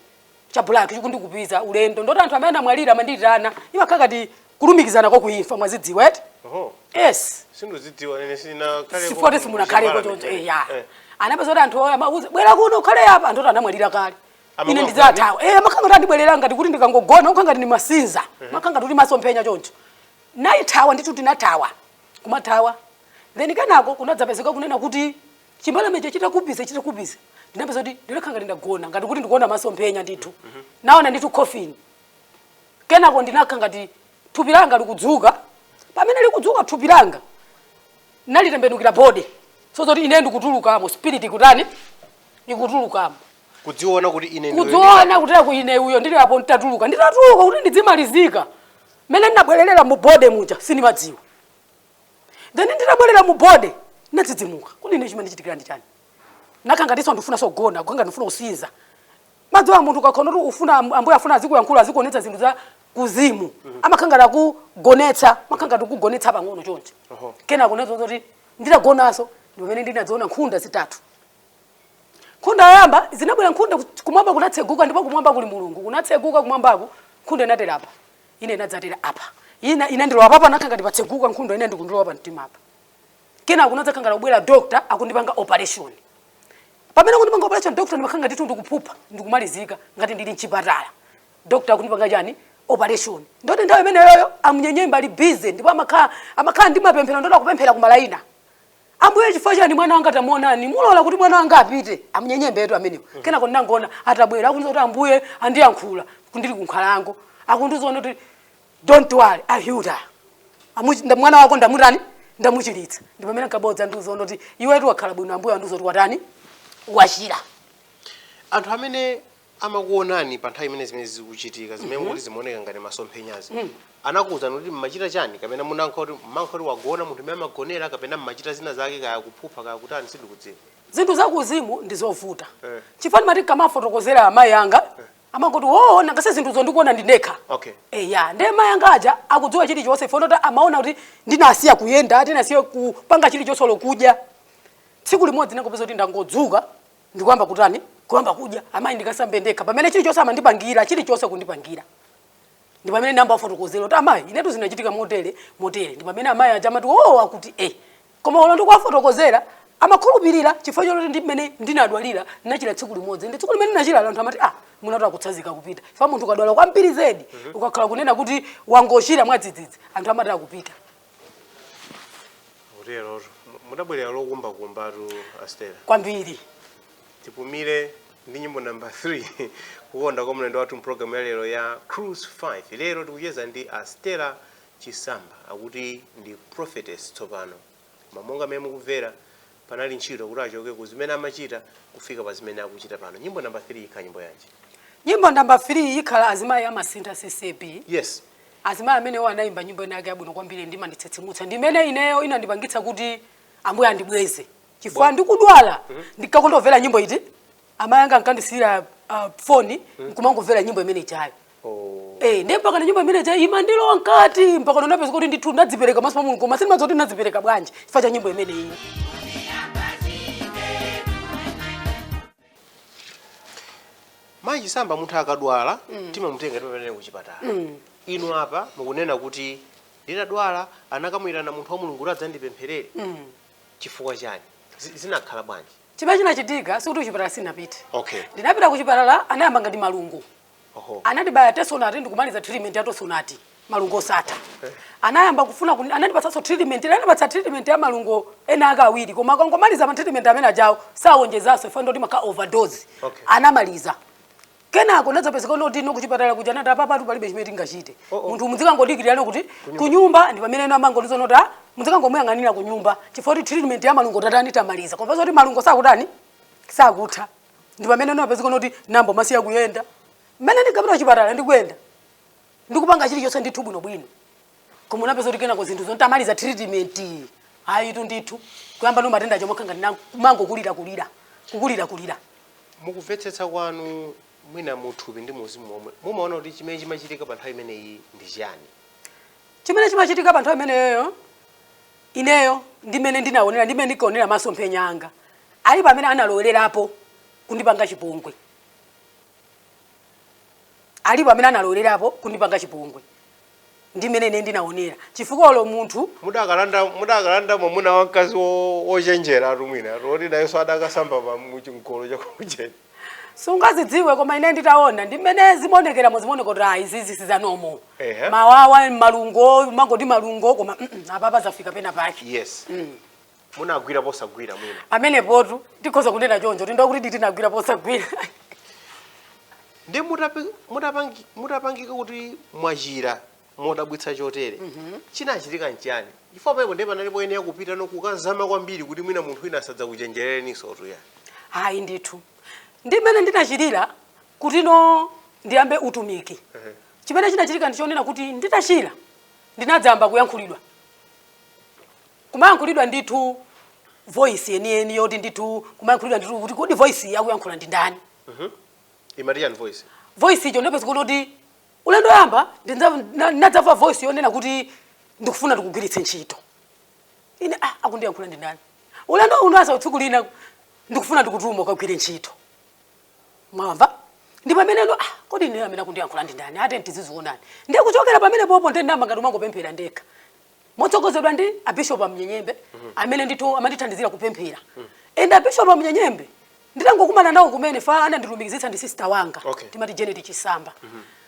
cha black chikundikupiza ulendo ndoti anthu amene anamwalira amanditana imakhala ngati kulumikizana kwa kuimfa mwazidziwa eti Oho. yes Sindikuzidziwa nene sina kale. sifoti simunakhaleko choncho eya Eh. anapeza kuti anthu amandiuza bwera kuno ukhale apa anthu oti anamwalira kale Amakuwa ine ndikuthawa eh imakhala ngati andibwerera ngati kuti ndikangogona kukhala ngati ndimasinza imakhala ngati masomphenya choncho naithawa ndithu ndinathawa kumathawa then kenako kunadzapezeka kunena kuti chimbalamecho chitakupiza chitakupiza ndinapeza kuti ndinakhala ngati ndagona ngati kuti ndikuona masomphenya ndithu naona ndithu coffin kenako ndinakhala ngati thupi langa likudzuka pamene likudzuka thupi langa nalitembenukira body so zoti ine ndikutulukamo spirit ikutani ikutulukamo kudziona kuti ine ndiwe- kudziona kuti aku ine uyo ndili apo nditatuluka nditatuluka kuti ndidzimalizika mmene ndinabwererera mu body muja sindimadziwa then nditabwerera mu body ndinadzidzimuka kuti ine chimandichitikira ndi chani nakhala ngatinso ndifunanso kugona kukhala ngati ndifuna kusinza mumadziwa munthu ukakhala kuti ufuna am- ambuye afuna azikuyankhula azikuonetsa zinthu za kuuzimu amakhala ngati akugonetsa amakhala ngati akugonetsa pang'ono choncho kenako akuonetsa kuti nditagonanso ndi pamene ndinadzaona nkhunda zitatu nkhunda yoyamba zinabwera nkhunda ku- kumwamba kunatseguka ndipo kumwamba kuli mulungu kunatseguka kumwambaku nkhunda inatera apa ina inadzatera apa ina inandilowa apapa panakhala ngati patseguka nkhundayo inayo ndikundilowa pa mtima apa kenako kunadzakhala ngati kubwera doctor akundipanga operation pamene akundipanga operation doctor ndimakhala ngati ndithu ndikuphupha ndikumalizika ngati ndili mchipatala doctor akundipanga chani operation ndoti nthawi imeneyoyo a Mnyenyembe ali busy ndipo amakhala amakhala ndi mapemphero ndoti akupemphera kumalaina Ambuye, chifukwa chani mwana wanga tamuonani, mulola kuti mwana wanga apite a Mnyenyembetu amenewo. Mm -hmm. Kenako ndinangoona atabwera akundiuza kuti Ambuye andiyankhula ndili kunkhalango akundiuza kuti don't worry I healed her. Amuchinda mwana wako ndamutani ndamuchiritsa. Ndipo pamene ankabwera kudzandiuza kuti iwetu wakhala bwino Ambuye andiuza kuti watani wachira. Anthu amene amakuonani pa nthawi imene zimene zikuchitika zimene mm -hmm. kuti zimaoneka ngati masomphenyazi mm. anakuwuzani kuti mmachita chani kapena munangokhala ngati mmangokhala ngati wagona munthu mmene amagonera kapena mmachita zina zake kaya kuphupha kaya kutani sindikudziwa zinthu zakuuzimu ndi zovuta eh. chifukwa ndimati ndikamafotokozera amayi anga eh. amangoti oo nanga si zinthuzo ndikuona ndine ndekha okay. eya eh, nde mayi anga aja sakudziwa chilichonse ife ndoti amaona kuti ndinasiya kuyenda ndinasiya kupanga chilichonse olo kudya tsiku limodzi ndangopeza kuti ndangodzuka ndi kuyamba kutani kuyamba kudya amayi ndikasambe ndekha pamene chilichonse amandipangira chilichonse kundipangira ndi pamene ndinayamba kufotokozera kuti amayi inetu zinachitika motere motere ndi pamene amayi aja amati oo akuti e koma olo ndikuwafotokozera amakhulupirira chifukwa choti ndi mmene ndinadwalira ndinachira tsiku limodzi ndi tsiku limene ndinachira anthu amati ah mwinatu akutsazika kupita chifukwa munthu ukadwala kwambiri zedi ukakhala kunena kuti wangochira mwadzidzidzi anthu amati akupita Kutero mudabwerera lokumbakumbatu Astera. Kwambiri. Tipumire ndi nyimbo namba 3 kukonda kwa mlendo wathu mpulogalamu ya lero ya Cruise 5. Lero tikucheza ndi Astera Chisamba akuti ndi prophetess tsopano. Koma monga mmene mukumvera panali ntchito kuti achoke ku zimene amachita kufika pa zimene akuchita pano nyimbo namba 3 ikhala nyimbo yanji nyimbo namba 3 ikhala azimayi a Masintha CCAP yes azimayi amenewo anayimba nyimbo ina yake yabwino kwambiri imanditsitsimutsa ndimene ineyo inandipangitsa kuti ambuye andibweze chifukwa ndikudwala ndinkakonda kumvera nyimbo iti amayi anga ankandisiyira uh, foni nkumangomvera nyimbo imene ijayo Eh, ndiye mpaka nyimbo imene ija imandilowa mkati mpaka ndinapeza kuti ndithu ndadzipereka maso pa mulungu koma sindimadziwa kuti ndadzipereka bwanji chifukwa cha nyimbo imene iyi mayi chisamba munthu akadwala timamutenga timapita naye kuchipatala inu apa mukunena kuti ndinadwala anakamuyitana munthu wa mulungu kuti adzandipempherere chifukwa chani Zi- zinakhala bwanji Chimene chinachitika sikuti kuchipatala sinapite. Okay. Ndinapita kuchipatala anayamba ngati malungo. Oho. Anandibaya tesonati ndikumaliza treatment ya tosonati malungo osatha. Eh. Anayamba kufuna kuni, anandipatsanso treatment, anandipatsa treatment ya malungo ena ake awiri koma akangomaliza ma treatment amene ajawo sawonjezanso chifukwa choti imakhala overdose. Okay. Anamaliza. kenako zinadzapezeka kuti no kuchipatala kuja nati apapatu palibe chimene tingachite munthu muzikangodikira kuti kunyumba ndi pamene ena anangotiuza kuti "Ah, muzikangomuyang'anira kunyumba chifukwa kuti treatment ya malungo tatani tamaliza koma zoti malungo sakutani sakutha ndi pamene zinapezeka kuti ndayamba kusiya kuyenda mmene ndinkapita kuchipatala ndikuyenda ndikupanga chilichonse ndithu bwinobwino koma zinapezeka kuti kenako zinthu zoti nditamaliza treatment ayitu ndithu kuyamba ndi matenda chomwe khanga ndi kumangokulira kulira kukulira kulira mukumvetsetsa kwanu mwina muthupi ndi muuzimu momwe mumaona kuti chimene chimachitika pa nthawi imeneyi ndi chiyani chimene chimachitika pa nthawi imeneyoyo ineyo ndi mmene ndinaonera ndi mmene ndinkaonera masomphenya anga alipo amene analowererapo kundipanga chipongwe alipo amene analowererapo kundipanga chipongwe ndi mmene ine ndinaonera chifukwa olo munthu mudakalanda mudakalanda mwamuna wa mkazi wo- wochenjera etu mwina woti nayenso adakasamba pa mchimgolo chakujeni sungazidziwe koma ine nditaona ndi mmene zimaonekeramo zimaoneka kuti ayi izizi sizanomo Ehe. mawawa malungo mangoti malungo koma mm, mm, apapa zafika pena pake yes Mm. munagwira posagwira mwina amenepotu tikhoza kunena choncho ndinena kuti ndinagwira posagwira ndi mutapi- mutapangi- mutapangika kuti mwachira modabwitsa chotere chinachitika nchiyani chifukwa pamenepo ndiye panali poyenera kupita ndi kukazama kwambiri kuti mwina munthu wina asadzakuchenjereninso tu ya ayi ndithu ndi mmene ndinachirira kuti tsono ndiyambe utumiki chimene chinachitika ndichonena kuti nditachira ndinadzayamba kuyankhulidwa kumayankhulidwa ndithu voice yeniyeni yoti ndithu kumayankhulidwa ndithu kuti kodi voice iyi akuyankhula ndi ndani imati yani voice voice icho ndinapeza kuti kuti ulendo woyamba ndinadzamva voice yonena kuti ndikufuna ndikugwiritse ntchito ine ah, akundiyankhula ndi ndani ulendo winanso tsiku lina ndikufuna ndikutume ukagwire ntchito mwamva ndi pameneno ah, kodi ine amene akundiyankhula ndi ndani ah tidzaziona ndiye kuchokera pamene popo ndinayamba ngati kumangopemphera ndekha motsogozedwa ndi abishopu a mnyenyembe amene ndithu amandithandizira kupemphera and abishopu a mnyenyembe nditangokumana nawo kumenepa anandilumikizitsa ndi sister wanga Okay. timati janet chisamba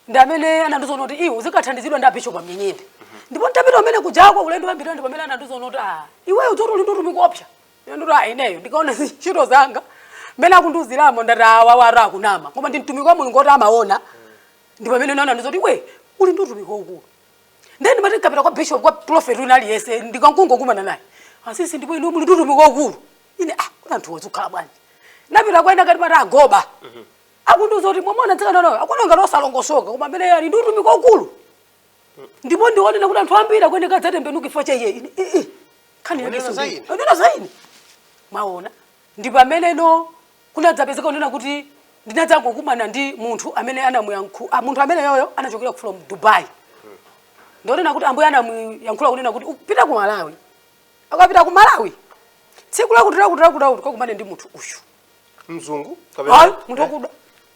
ndi amene anandiuza zonena kuti iwe uzikathandizidwa ndi abishopu a mnyenyembe ndipo ntapita kumene kujako ulendo wambiri ndi pamene anandiuza zonena kuti ah iwe ukudziwa zoti uli ndi utumiki oopsa ine ndikuti ah ineyo ndikaona ntchito zanga mmene akundiuziramo ndati awa akunama koma ndi mtumiki wa mulungu oti amaona ndi pamene naona ndithu zoti iwe uli ndi utumiki waukulu ndiye ndimati ndikapita kwa bishop kwa prophet wina aliyense ndikankungokumana naye asisi ndipo inu muli tutumiki waukulu ine ah koma anthu awa zikhala bwanji ndapita kwa ena ngati Martha Agoba akundiuza kuti mwamuona mtsikanayo akuoneka ngati osalongosoka koma ameneyu ali ndi utumiki waukulu ndipo ndionena kuti anthu ambiri akuyeneka adzatembenuka chifukwa cha iye ine eh, eh, nkhani yake kunena za ine? kunena za ine mwaona Ndi pameneno kunadzapezeka kunena kuti ndinadzangokumana ndi munthu amene anamuyankhu, a, munthu ameneyoyo anachokera from Dubai. Ndi onena kuti Ambuye anamuyankhula kunena kuti upite ku Malawi. Akapita ku Malawi, tsiku lakuti lakuti lakuti lakuti akakumane ndi munthu uyu. mzungu Ayi, kapena munthu wakuda.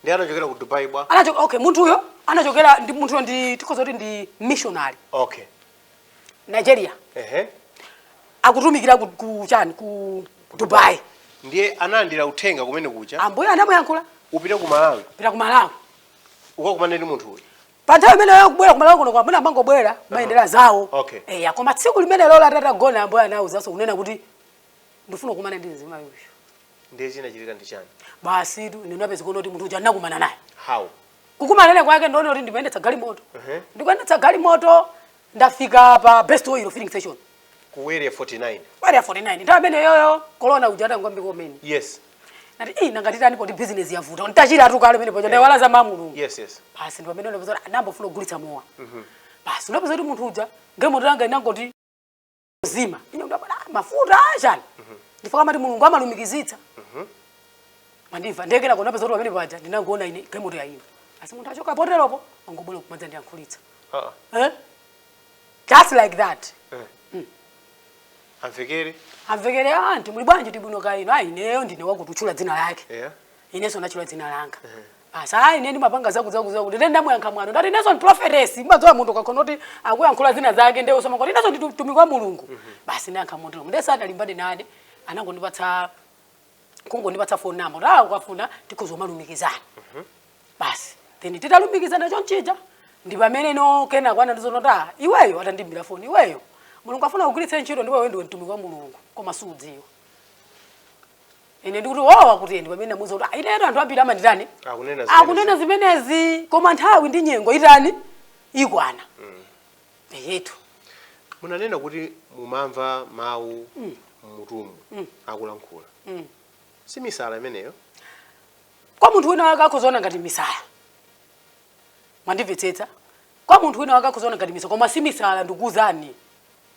ndi anachokera ku dubai bwa Anachoka, okay, munthuyo anachokera ndi munthuyo ndi tikhoza kuti ndi missionary. okay Nigeria ehe akutumikira ku, ku chani ku Dubai ndiye analandira uthenga kumene kuja ambuye anamuyankhula upite ku malawi pita ku Malawi ukakumane ndi munthu uyu pa nthawi imene akubwera ku Malawi kuno kwa amuna amangobwera maendera zawo Okay. eya koma tsiku limenelolo tatagona ambuye anawuzanso kunena kuti ndifuna kukumana ndi mzimayi uyu ndiye chinachitika ndi chani basi tu ndinapeza kunena kuti munthu uja ndinakumana naye how kukumana naye kwake ndinena kuti ndikuyendetsa galimoto ndikuyendetsa galimoto ndafika pa best oil filling station ku area 49 area 49 nthawi imene yoyo corona uja atangoyamba kumene yes ndati eh nanga titani poti business yavuta nditachira tu kale pamene poja ndaiwala za Mulungu yes yes basi ndi pamene ndapeza kuti ndayamba kufuna kugulitsa mowa basi ndapeza kuti munthu uja galimoto yanga inangoti zima ine ndabwera mafuta achani ndifika amati mulungu amalumikizitsa mwandimva nde kungoona zoti pamene paja ndinangoona ine galimoto ya ine basi munthu achoka poteropo angobwera kumadzandiyankhulitsa Ah, eh? just like that amvekere amvekere ati muli bwanji tili bwino kaya inu ayi ineyo ndine wakuti watchula dzina lake Yeah. inenso ndatchula dzina langa basi ayi ine ndimapanga zakutizakuti ine ndamuyankha mwano ndati ineso ndi prophetess umadziwa munthu ukaona kuti akuyankhula zina zake ndiwenso umangoti ineso ndi mtumiki wa mulungu basi ndayankha motero nde sanalimbane nane anangondipatsa kungondipatsa phone number kuti awo ukafuna tikhoza kumalumikizana basi then titalumikizana chonchija ndi pamene now kenako anandiuzano kuti ah iweyo atandimbira phone iweyo mulungu afuna kugwiritsa ntchito ndipo iwe ndiwe mtumiki wa mulungu koma suudziwa ine ndikuti wawa kuti ndi pamene ndamuuza kuti "Ah, inetu anthu ambiri amanditani akunena zimene- akunena zimenezi koma nthawi ndi nyengo itani ikwana eyetu munanena kuti mumamva mawu mmutumu akulankhula si misala imeneyo kwa munthu wina wake akhozaona ngati misala mwandimvetsetsa kwa munthu wina wake akhozaona ngati misala koma si misala ndikuuzani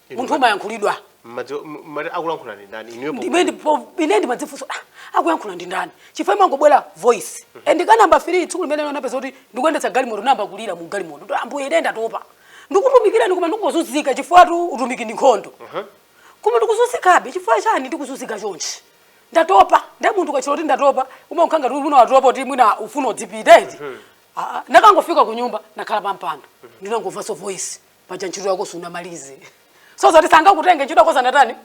Iwe munthu ma- umayankhulidwa Mmadziwa- m- mmati akulankhula ndi ndani inuyo Ndimene ndipo ine ndimadzifunsa ah, akuyankhula ndi ndani chifukwa mangobwera voice and ka namba 3 tsiku limene unapeza kuti ndikuyendetsa galimoto ndayamba kulira mu galimoto kuti ambuye ine ndatopa ndikutumikirani koma ndikuzunzika chifukwatu utumiki ndi nkhondo koma ndikuzunzikabe chifukwa chani ndikuzunzika chonchi ndatopa nde munthu ukatchula kuti ndatopa umakhala ngati kuti mwina watopa kuti mwina ufuna udzipita eti Ah, ah, ntangofika ku nyumba ndakhala pampando ndinangomvanso voice paja ntchito yako sunamalize so zoti sangakutenge ntchito yako siinatani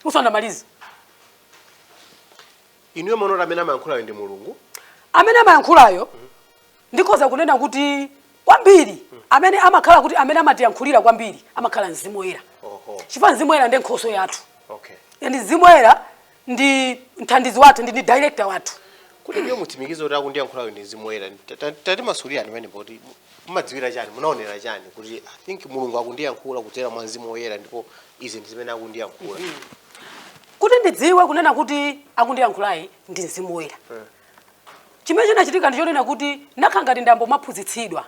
usanamalize inuyo mumaona kuti amene amayankhulayo ndi mulungu amene amayankhulayo ndikhoza kunena kuti kwambiri amene amakhala kuti amene amatiyankhulira kwambiri amakhala mzimu woyera oho chifukwa mzimu woyera ndi nkhoswe yathu okay and mzimu woyera ndi mthandizi wathu ndi ndi director wathu kuti inuyo mutsimikize kuti akundiyankhulayo ndi mzimu woyera Ta- ta- tatimasulirani pamenepo kuti mumadziwira chani munaonera chani kuti i think mulungu akundiyankhula kudzera mwa mzimu woyera ndipo izi ndi zimene akundiyankhula kuti ndidziwe kunena kuti akundiyankhulayi ndi mzimu woyera chimene chinachitika ndichonena kuti nakhala ngati ndayambo maphunzitsidwa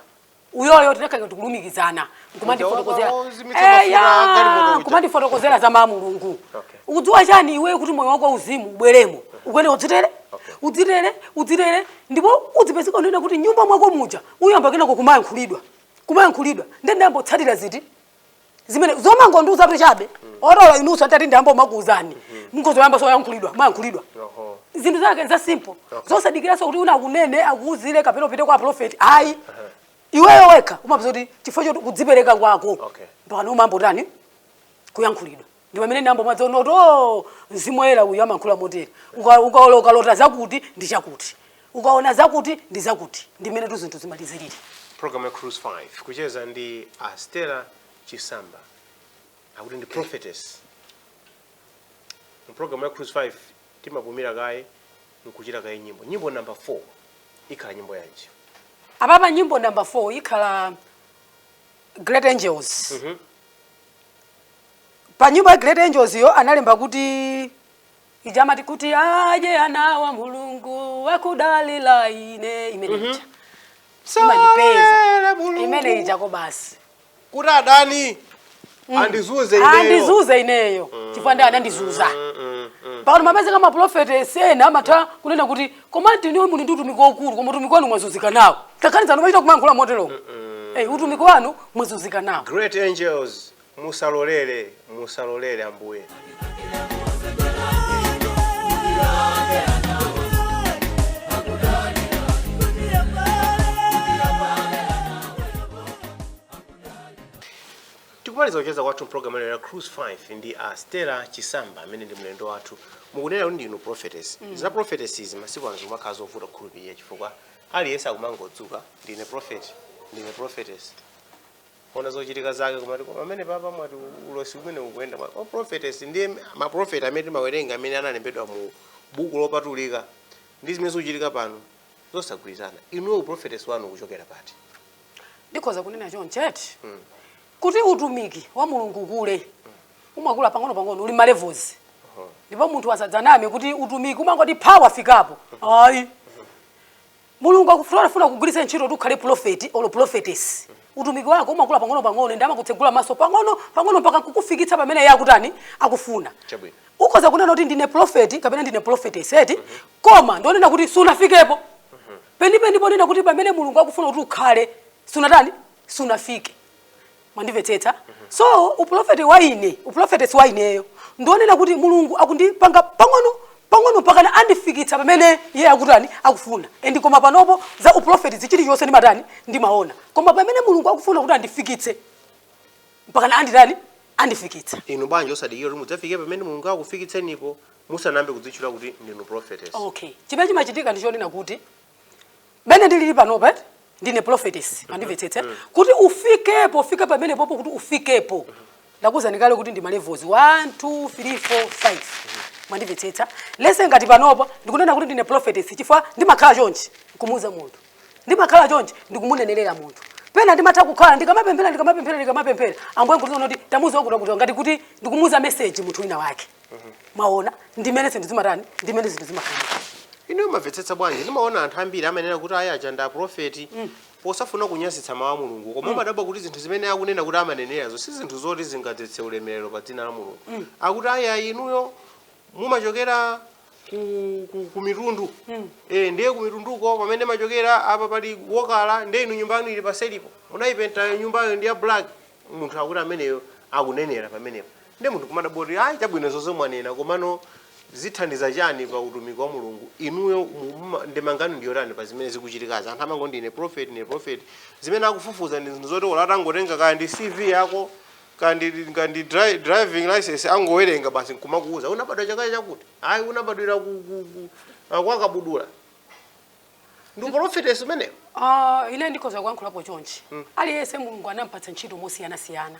uyoyo tinakhala tikulumikizana nkumandifotokozera Uja wozimitsa mafuta Eya, agalimoto uja. nkumandifotokozera za mawu a mulungu Okay. ukudziwa chani iwe kuti moyo wako uzimu ubweremo ukuyenera udzitere udzitere udzitere ndipo udzipezeka kunena kuti mnyumba mwako muja uyamba kenako kumayankhulidwa kumayankhulidwa nde ndayambo tsatira ziti zimene zomangondiuza kuti chabe olo inunso atati ndiyambe kumakuuzani mukhoza kuyambanso kuyankhulidwa mayankhulidwa Oho. zinthu zake ndi za simple zosadikiranso kuti wina akunene akuuzire kapena upite kwa prophet ayi iweyo wekha umapeza kuti chifukwa choti kudzipereka kwako Okay. mpaka umayamba kutani kuyankhulidwa ndi pamene ndinayamba kumaziona kuti o mzimu woyera uyu amankhula motere Uka- ukalo- ukalota zakuti ndi chakuti ukaona zakuti ndi zakuti ndi mmenetu zinthu zimalizirire program ya cruise 5 kucheza ndi a stella chisamba akuti ndi prophetess mu program ya cruise 5 timapumira kaye nkutchera kaye nyimbo nyimbo number 4 ikhala nyimbo yanji apapa nyimbo number 4 ikhala great angels pa nyimbo ya Great Angels iyo analemba kuti ija amati kuti aje anawa mulungu wakudalira ine imene ija Salolere Mulungu imene ija ko basi kuti adani andizunze ineyo. andizunze ineyo chifukwa adani anandizunza pano amapezeka maprofetesi ena amatha kunena kuti koma ndi inuyo muli ndi utumiki waukulu koma utumiki wanu mwazunzika nawo ngakhale anzanu amachita kumankhula motero Eh, utumiki wanu mwazunzika nawo Great Angels Musalolere, musalolere, Ambuye. tikumaliza kucheza kwathu mpulogalamu ya cruise 5 ndi a stella chisamba amene ndi mlendo wathu mukunena kuti ndinu prophetess za prophetess izi masiku ano zimakhala zovuta kukhulupirira chifukwa aliyense akumangodzuka ndine prophet ndine prophetess ona zochitika zake kumati koma amenewa apa mwati ulosi umene ukuyenda mwa prophetess ndi ma prophet amene timawerenga amene analembedwa mu buku lopatulika ndi zimene zikuchitika pano zosagwirizana inuyo u prophetess wanu ukuchokera pati ndikhoza kunena chonchi kuti utumiki wa mulungu kukula umakula pang'ono pang'ono uli ma levels ndipo munthu asadzaname kuti utumiki umangoti pha wafikapo ayi Mulungu akafuna kukugwiritsa ntchito kuti ukhale pulofeti olo pulofetesi. Utumiki wako umakula pang'onopang'ono ndi amakutsegula maso pang'ono pang'ono mpaka kukufikitsa pamene iye akutani akufuna. Chabwino. Ukhoza kunena kuti ndine pulofeti kapena ndine pulofetesi eti koma ndi wonena kuti sunafikepo penipeni ponena kuti pamene Mulungu akufuna kuti ukhale sunatani sunafike. mwandimvetsetsa so upulofeti wa ine upulofetesi wa ineyo ndi wonena kuti mulungu akundipanga pang'ono pang'ono mpaka andifikitsa pamene iye akutani akufuna and koma panopo za upulofeti chilichonse ndimatani ndimaona koma pamene mulungu akufuna kuti andifikitse mpakana anditani andifikitsa inu bwanji osadikira kuti mudzafike pamene mulungu akufikitsenipo musanayambe kudzitchula kuti ndinu prophetess okay chimene chimachitika ndi chonena kuti mene ndilili panopa eti ndine prophetess mwandimvetsetsa kuti ufikepo ufike pamenepopo kuti ufikepo ndakuuzani kale kuti ndi malevels 1 2 3 4 5 mwandimvetsetsa lese ngati panopa ndikunena kuti ndine prophetess chifukwa ndimakhala chonchi nkumuuza munthu ndimakhala chonchi ndikumunenelera munthu pena ndimatha kukhala ndikamapemphera ndikamapemphera ndikamapemphera ambuye nkuti kuti tamuuza kuti kuti ngati kuti ndikumuuza message munthu wina wake mwaona ndimene zinthu zimatani ndimene zinthu zimakhala inuyo mumamvetsetsa bwanji ndimaona anthu ambiri amanena kuti ayi aja ndi aprofeti posafuna kunyazitsa mawu a mulungu koma umadabwa kuti zinthu zimene akunena kuti amanenerazo si zinthu zoti zingadzetse ulemerero pa dzina la mulungu akuti ayi ayi inuyo mumachokera ku, ku, ku mitundu eh, ndiye ku mitunduko pamene machokera apa pali okala ndiye inu nyumba yanu ili paseripo munayipenta nyumbayo ndi ya black munthu akuti ameneyo akunenera pamenepo Ndiye munthu kumadabwa kuti ayi chabwino izo zonse mwanena komano zithandiza chani pa utumiki wa Mulungu inuyo mu- muma- ndemanga yanu ndiyotani pa zimene zikuchitikazi anthu amango ndine prophet ndine prophet zimene akufufuza ndi zinthu zoti olo atangotenga kaya ndi CV yako kaya ndi kaya ndi dri- driving license angowerenga basi nkumakuuza unabadwa chaka chakuti ayi unabadwira ku, ku, ku, ah, kwa Kabudula ndi uprofetesi umenewo Ah, ine ndikhoza kuyankhulapo chonchi aliyense mulungu anampatsa ntchito mosiyanasiyana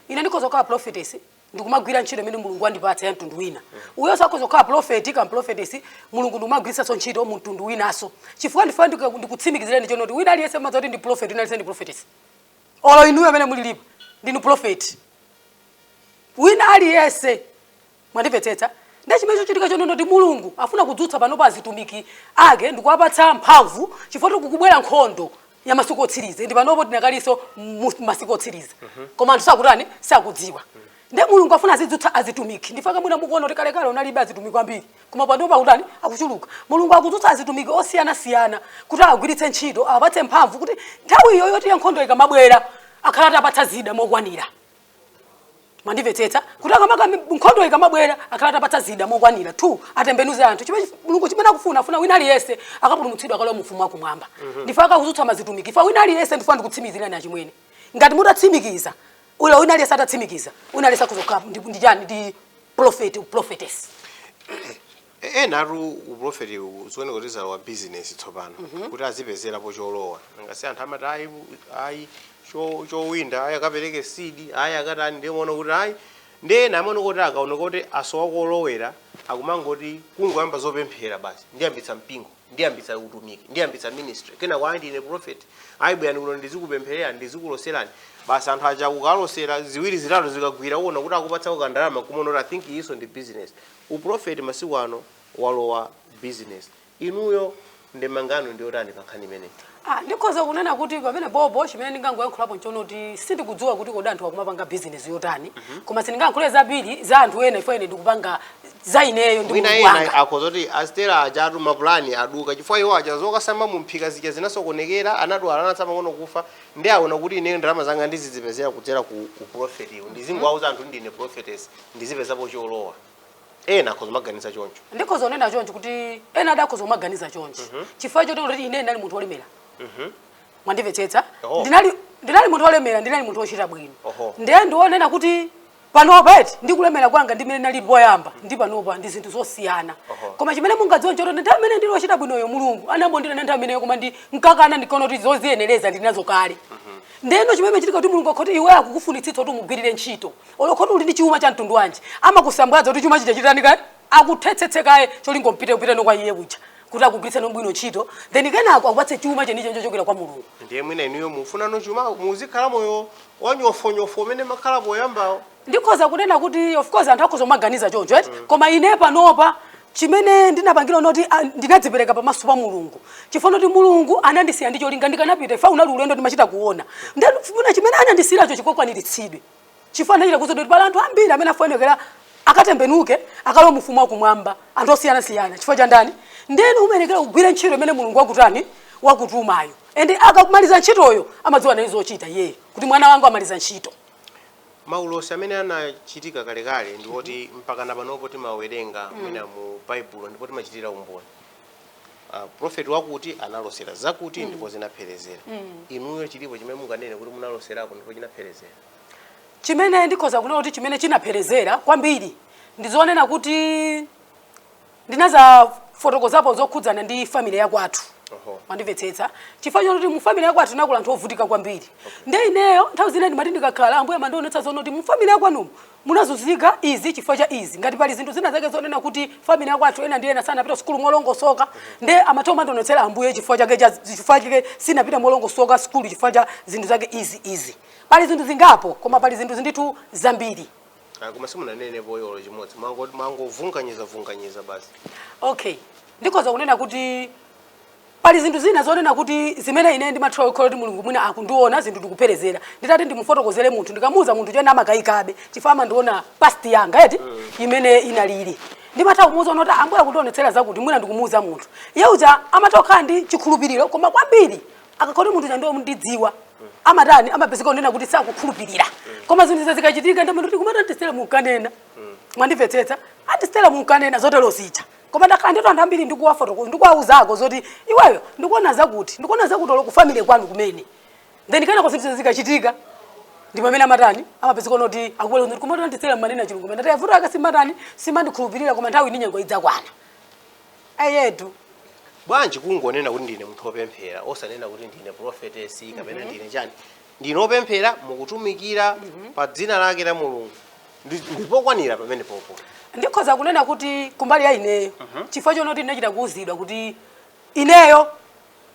ine ndikhoza kukhala profetesi ndikumagwira ntchito imene mulungu wandipatsa ya mtundu wina uyonso akhoza kukhala profeti kaya profetesi mulungu ndikumamugwiritsanso ntchito mu mtundu winanso chifukwa ndifuna ndiku- ndikutsimikizireni chonoti wina aliyense mudziwa kuti ndi profeti wina aliyense ndi profetesi olo inuyo amene mulilipo ndinu profeti wina aliyense Mwandimvetsetsa? Ndiye chimene chikuchitika chonena kuti Mulungu akufuna kudzutsa panopa azitumiki Ake ndi kuwapatsa mphamvu, chifukwa kukubwera nkhondo ya masiku otsiriza, endi panopo tidakalinso mu masiku otsiriza, koma anthu sakutani? Sakudziwa. Ndiye Mulungu akufuna azidzutsa azitumiki. Ndi chifukwa mwina mukuwona kuti kalekale kunalibe azitumiki ambiri, koma panopa akutani? Akuchuluka. Mulungu akudzutsa azitumiki osiyanasiyana kuti awagwiritse ntchito, awapatse mphamvu kuti nthawi iyoyo yoti ya nkhondo ikamabwera, akhale atapatsa zida mokwanira. mwandimvetsetsa kuti akamaka nkhondo ikamabwera akhala atapatsa zida mokwanira two atembenuze anthu chimene mulungu chimene akufuna afuna wina aliyense akapulumutsidwa akalowa mu ufumu wakumwamba mhm. ndi chifukwa akudzutsa azitumiki chifukwa wina aliyense ndifuna ndikutsimikizireni achimwene ngati mutatsimikiza olo wina aliyense atatsimikiza wina aliyense akudzakhala ndi chani ndi prophet prophetess E- enatu uprofeti zikuoneka kuti zalowa bizinesi tsopano kuti azipezerapo cholowa ngati anthu amati ayi ayi cho- chowinda ayi akapereke seed ayi akatani ndiye muona kuti ayi ndi ena amaona kuti akaona kuti asowa kolowera akumangoti kungoyamba zopemphera basi ndiyambitsa mpingo ndiyambitsa utumiki ndiyambitsa ministry kena kwa ndine prophet ayi bwerani kuno ndizikupemphererani ndizikuloserani basi anthu aja kukalosera ziwiri zitatu zikagwira uona kuti akupatsa kandalama kumaona kuti i think iyinso ndi business Uprofeti masiku ano walowa business. Inuyo ndemanga yanu ndiyotani pa nkhani imeneyi? Ah, ndikhoza kunena kuti pamenepopo chimene ndingangoyankhulapo nchona kuti sindikudziwa kuti kodi anthu akumapanga business yotani mm -hmm. koma sindingayankhule zambiri za anthu ena ifo ine ndikupanga za ineyo ndi mwina ena akhoza kuti a Stella ajatu mapulani aduka chifukwa iwo aja zokasamba mu mphika zija zinasokonekera anadwala anatsala pang'ono kufa ndi aona kuti ineyo ndalama zanga ndizizipezera kudzera ku uprofetiwo ndizingowauza anthu ndine prophetess ndizipezapo cholowa ena akhoza kumaganiza choncho ndikhoza kunena choncho kuti ena adakhoza kumaganiza chonchi chifukwa choti kuti ine ndinali munthu wolemera mwandimvetsetsa Oho. ndinali ndinali munthu wolemera ndinali munthu wochita bwino Oho. ndiye ndionena kuti panopa eti ndi kulemera kwanga ndimene ndinali poyamba ndi panopa ndi zinthu zosiyana Oho. koma chimene mungadziwe nchoti ndi nthawi imene ndili wochita bwinoyo mulungu anambondira ndi nthawi imeneyo koma ndinkakana ndikaona kuti zoziyenereza ndinazo kale ndeno chimene chitika kuti mulungu akakhala oti iwe akukufunitsitsa kuti umugwirire ntchito olo khala uli ndi chuma cha mtundu wanji amakusambwadza kuti chuma chija chitani kaye akuthetsetse kaye cholinga upite upiteno kwa iye kuja kuti akugwiritseno bwino ntchito then kenako akupatse chuma chenicho chochokera kwa mulungu ndiye mwina inuyo mukufunano chuma muzikhala moyo wanyofonyofo umene makhala poyambawo ndikhoza kunena kuti of course anthu akhoza kumaganiza choncho eti mm. koma ine panopa chimene ndinapangira n'choti ah, ndinadzipereka pamaso pa mulungu chifukwa choti mulungu anandisiya ndi cholinga ndikanapita ifa unali ulendo ndimachita kuona ndifuna chimene anandisiyiracho chikakwaniritsidwe chifukwa ndachita kuuzidwa kuti pali anthu ambiri amene afunikira akatembenuke akalowe mu ufumu wakumwamba anthu osiyanasiyana chifukwa cha ndani ndeni umayenekera kugwira ntchito imene mulungu wakutani wakutumayo ende akamaliza ntchitoyo amadziwa nayo zochita iyeyo kuti mwana wangu wamaliza ntchito maulosi amene anachitika kalekale ndi oti mpaka na panopa timawerenga mwina mu baibulo ndipo timachitira umboni uh, prophet wakuti analosera zakuti mm. ndipo zinapherezera mm. inuyo chilipo chimene munganene kuti munaloserako ndipo chinapherezera chimene ndikhoza kunena kuti chimene chinapherezera kwambiri ndizonena kuti ndinazafotokozapo zokhudzana ndi family yakwathu mwandimvetsetsa chifukwa choti mu family yakwathu tinakula anthu ovutika kwambiri nde ineyo nthawi zina ndimati ndikakhala ambuye amandionetsa zonena kuti mu family yakwanumu munazuzika izi chifukwa cha izi ngati pali zinthu zina zake zonena kuti family yakwathu ena ndi ena sanapita sukulu molongosoka nde amatha kumandionetsera ambuye chifukwa chake cha- chifukwa chake sinapita molongosoka sukulu chifukwa cha zinthu zake izi izi pali zinthu zingapo koma pali zinthu zindithu zambiri Ah, koma simunanene poyolo chimodzi Mwango- mwangovunganiza vunganiza basi okay ndikhoza kunena kuti Pali zinthu zina zonena kuti zimene ine ndimatha kukhala kuti Mulungu mwina akundionetsa zinthu ndikuperezera. Nditati ndimufotokozere munthu, ndikamuuza munthu choti amakayikabe chifukwa amandiona past yanga eti imene inalili. Ndimatha kumuuza kuti Ambuye akundionetsera zakuti mwina ndikumuuza munthu. Iye uja amatha kukhala ndi chikhulupiriro koma kwambiri akakhala kuti munthu uja ndiye wondidziwa amatani amapezeka kunena kuti sakukhulupirira. Koma zinthu izi zikachitika ndamati kuti kumati anti Stella munkanena. Mwandimvetsetsa? Anti Stella munkanena zotero zija. koma ndakhala nditu anthu ambiri ndikuwafotokoza ndikuwawuzako zoti iweyo ndikuona zakuti ndikuona zakuti olo ku family kwanu kumene then kenako zinthu zikachitika ndi pamene amatani amapezeka kunoti akubwera kuti kumati a Stella mumanena chilungamo mene tayavuta aka simatani simandikhulupirira koma nthawi ndi nyengo idzakwana ndiyetu bwanji kungonena kuti ndine munthu wopemphera osanena kuti ndine prophetess kapena ndine chani ndinu opemphera mukutumikira pa dzina lake la mulungu Ndi- ndipokwanira pamene pompo ndikhoza kunena kuti kumbali ya ineyo chifukwa chonena kuti ndinachita kuuzidwa kuti ineyo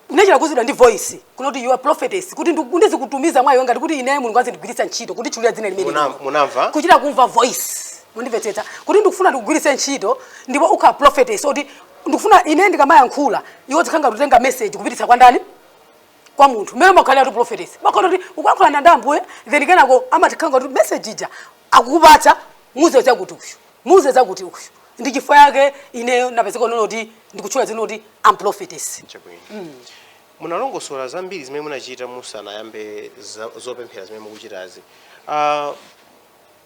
ndinachita kuuzidwa ndi voice kunena kuti you are prophetess kuti ndu- ndizikutumiza mwana wanga kuti ineyo mulungu azindigwiritsa ntchito kutchulira dzina limene Muna- lino. munamva kuchita kumva voice mundimvetsetsa kuti ndikufuna ndikugwiritse ntchito ndipo ukhala prophetess oti ndikufuna ine ndikamayankhula iwe uzikhala ngati ukutenga message kupititsa kwa ndani kwa munthu mmene umakhaliratu prophetess umakhala kuti ukuyankhulana ndi ambuye then kenako amakhala ngati message ija akukupatsa muuze chakuti uyu muuze zakuti uyu ndi chifukwa yake ineyo napezeka kunena kuti ndikutchula dzina kuti am prophetess chabwino munalongosola zambiri zimene munachita musanayambe za- zopemphera zimene mukuchitazi Ah,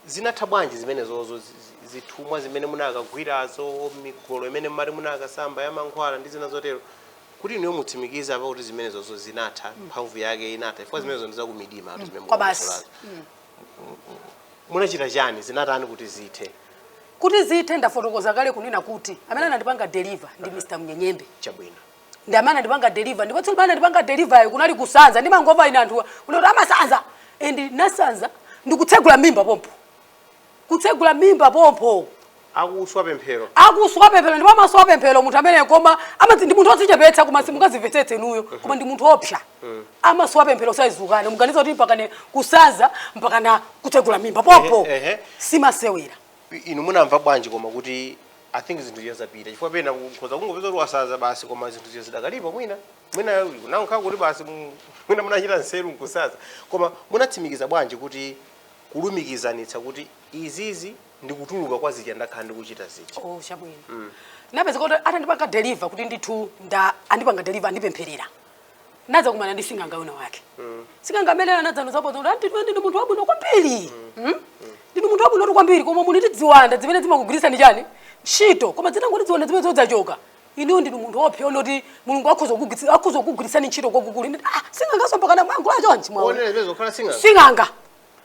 zinatha bwanji zimenezozo zi- zi- zithumwa zimene munakagwirazo migolo imene mmati munakasamba ya mankhwala ndi zina zotero kuti inuyo mutsimikize apa kuti zimenezozo zinatha mphamvu yake inatha chifukwa zimenezo ndi zakumidima kuti zimene Kwabasi. mukumasulazo. munachita chani zinatani kuti zithe kuti zithe ndafotokoza kale kunena kuti amene anandipanga deliver ndi mr mnyenyembe chabwino ndi amene anandipanga deliver ndipo tsiku limene anandipanga deliver kunali kusanza ndimangomva ine anthuwa kunoti amasanza and nasanza ndikutsegula m'mimba pompo kutsegula m'mimba pompo akuswa pemphero akuswa pemphero ndipo amaswa pemphero munthu amene koma amadzi ndi munthu odzichepetsa koma simungazimvetsetse inuyo koma ndi munthu oopsa amaswa pemphero saizukane muganiza kuti mpakana kusanza mpakana kutsegula m'mimba pompo Ehe, ehe. si masewera I- inu munamva bwanji koma kuti i think zinthu zija zapita chifukwa pena kukhoza kungopeza kuti wasanza basi koma zinthu zija zidakalipo mwina mwina nankhala kuti basi mu- mwina munachita nseru nkusanza koma munatsimikiza bwanji kuti kulumikizanitsa kuti izizi ndikutuluka kwa zija ndakhala ndikuchita zija oh chabwino mm. napezeka kuti atandipanga deliver kuti ndithu nda andipanga deliver andipempherera nadzakumana ndi sing'anga wina wake mm. sing'anga amene anadzandiuzapo zakuti anti ndinu munthu wabwino kwambiri mm. mm? ndinu munthu wabwino kwambiri koma muli ndi ziwanda zimene zimakugwiritsani chani ntchito koma zinangoti ziwanda zimenezo zachoka inuyo ndinu munthu woopsa woti mulungu akhoza kukugwiritsi- akhoza kukugwiritsani ntchito kwakukulu Ine- ah, sing'anganso mpakana mwangula chonchi mwaona onena zimene zokhala sing'anga sing'anga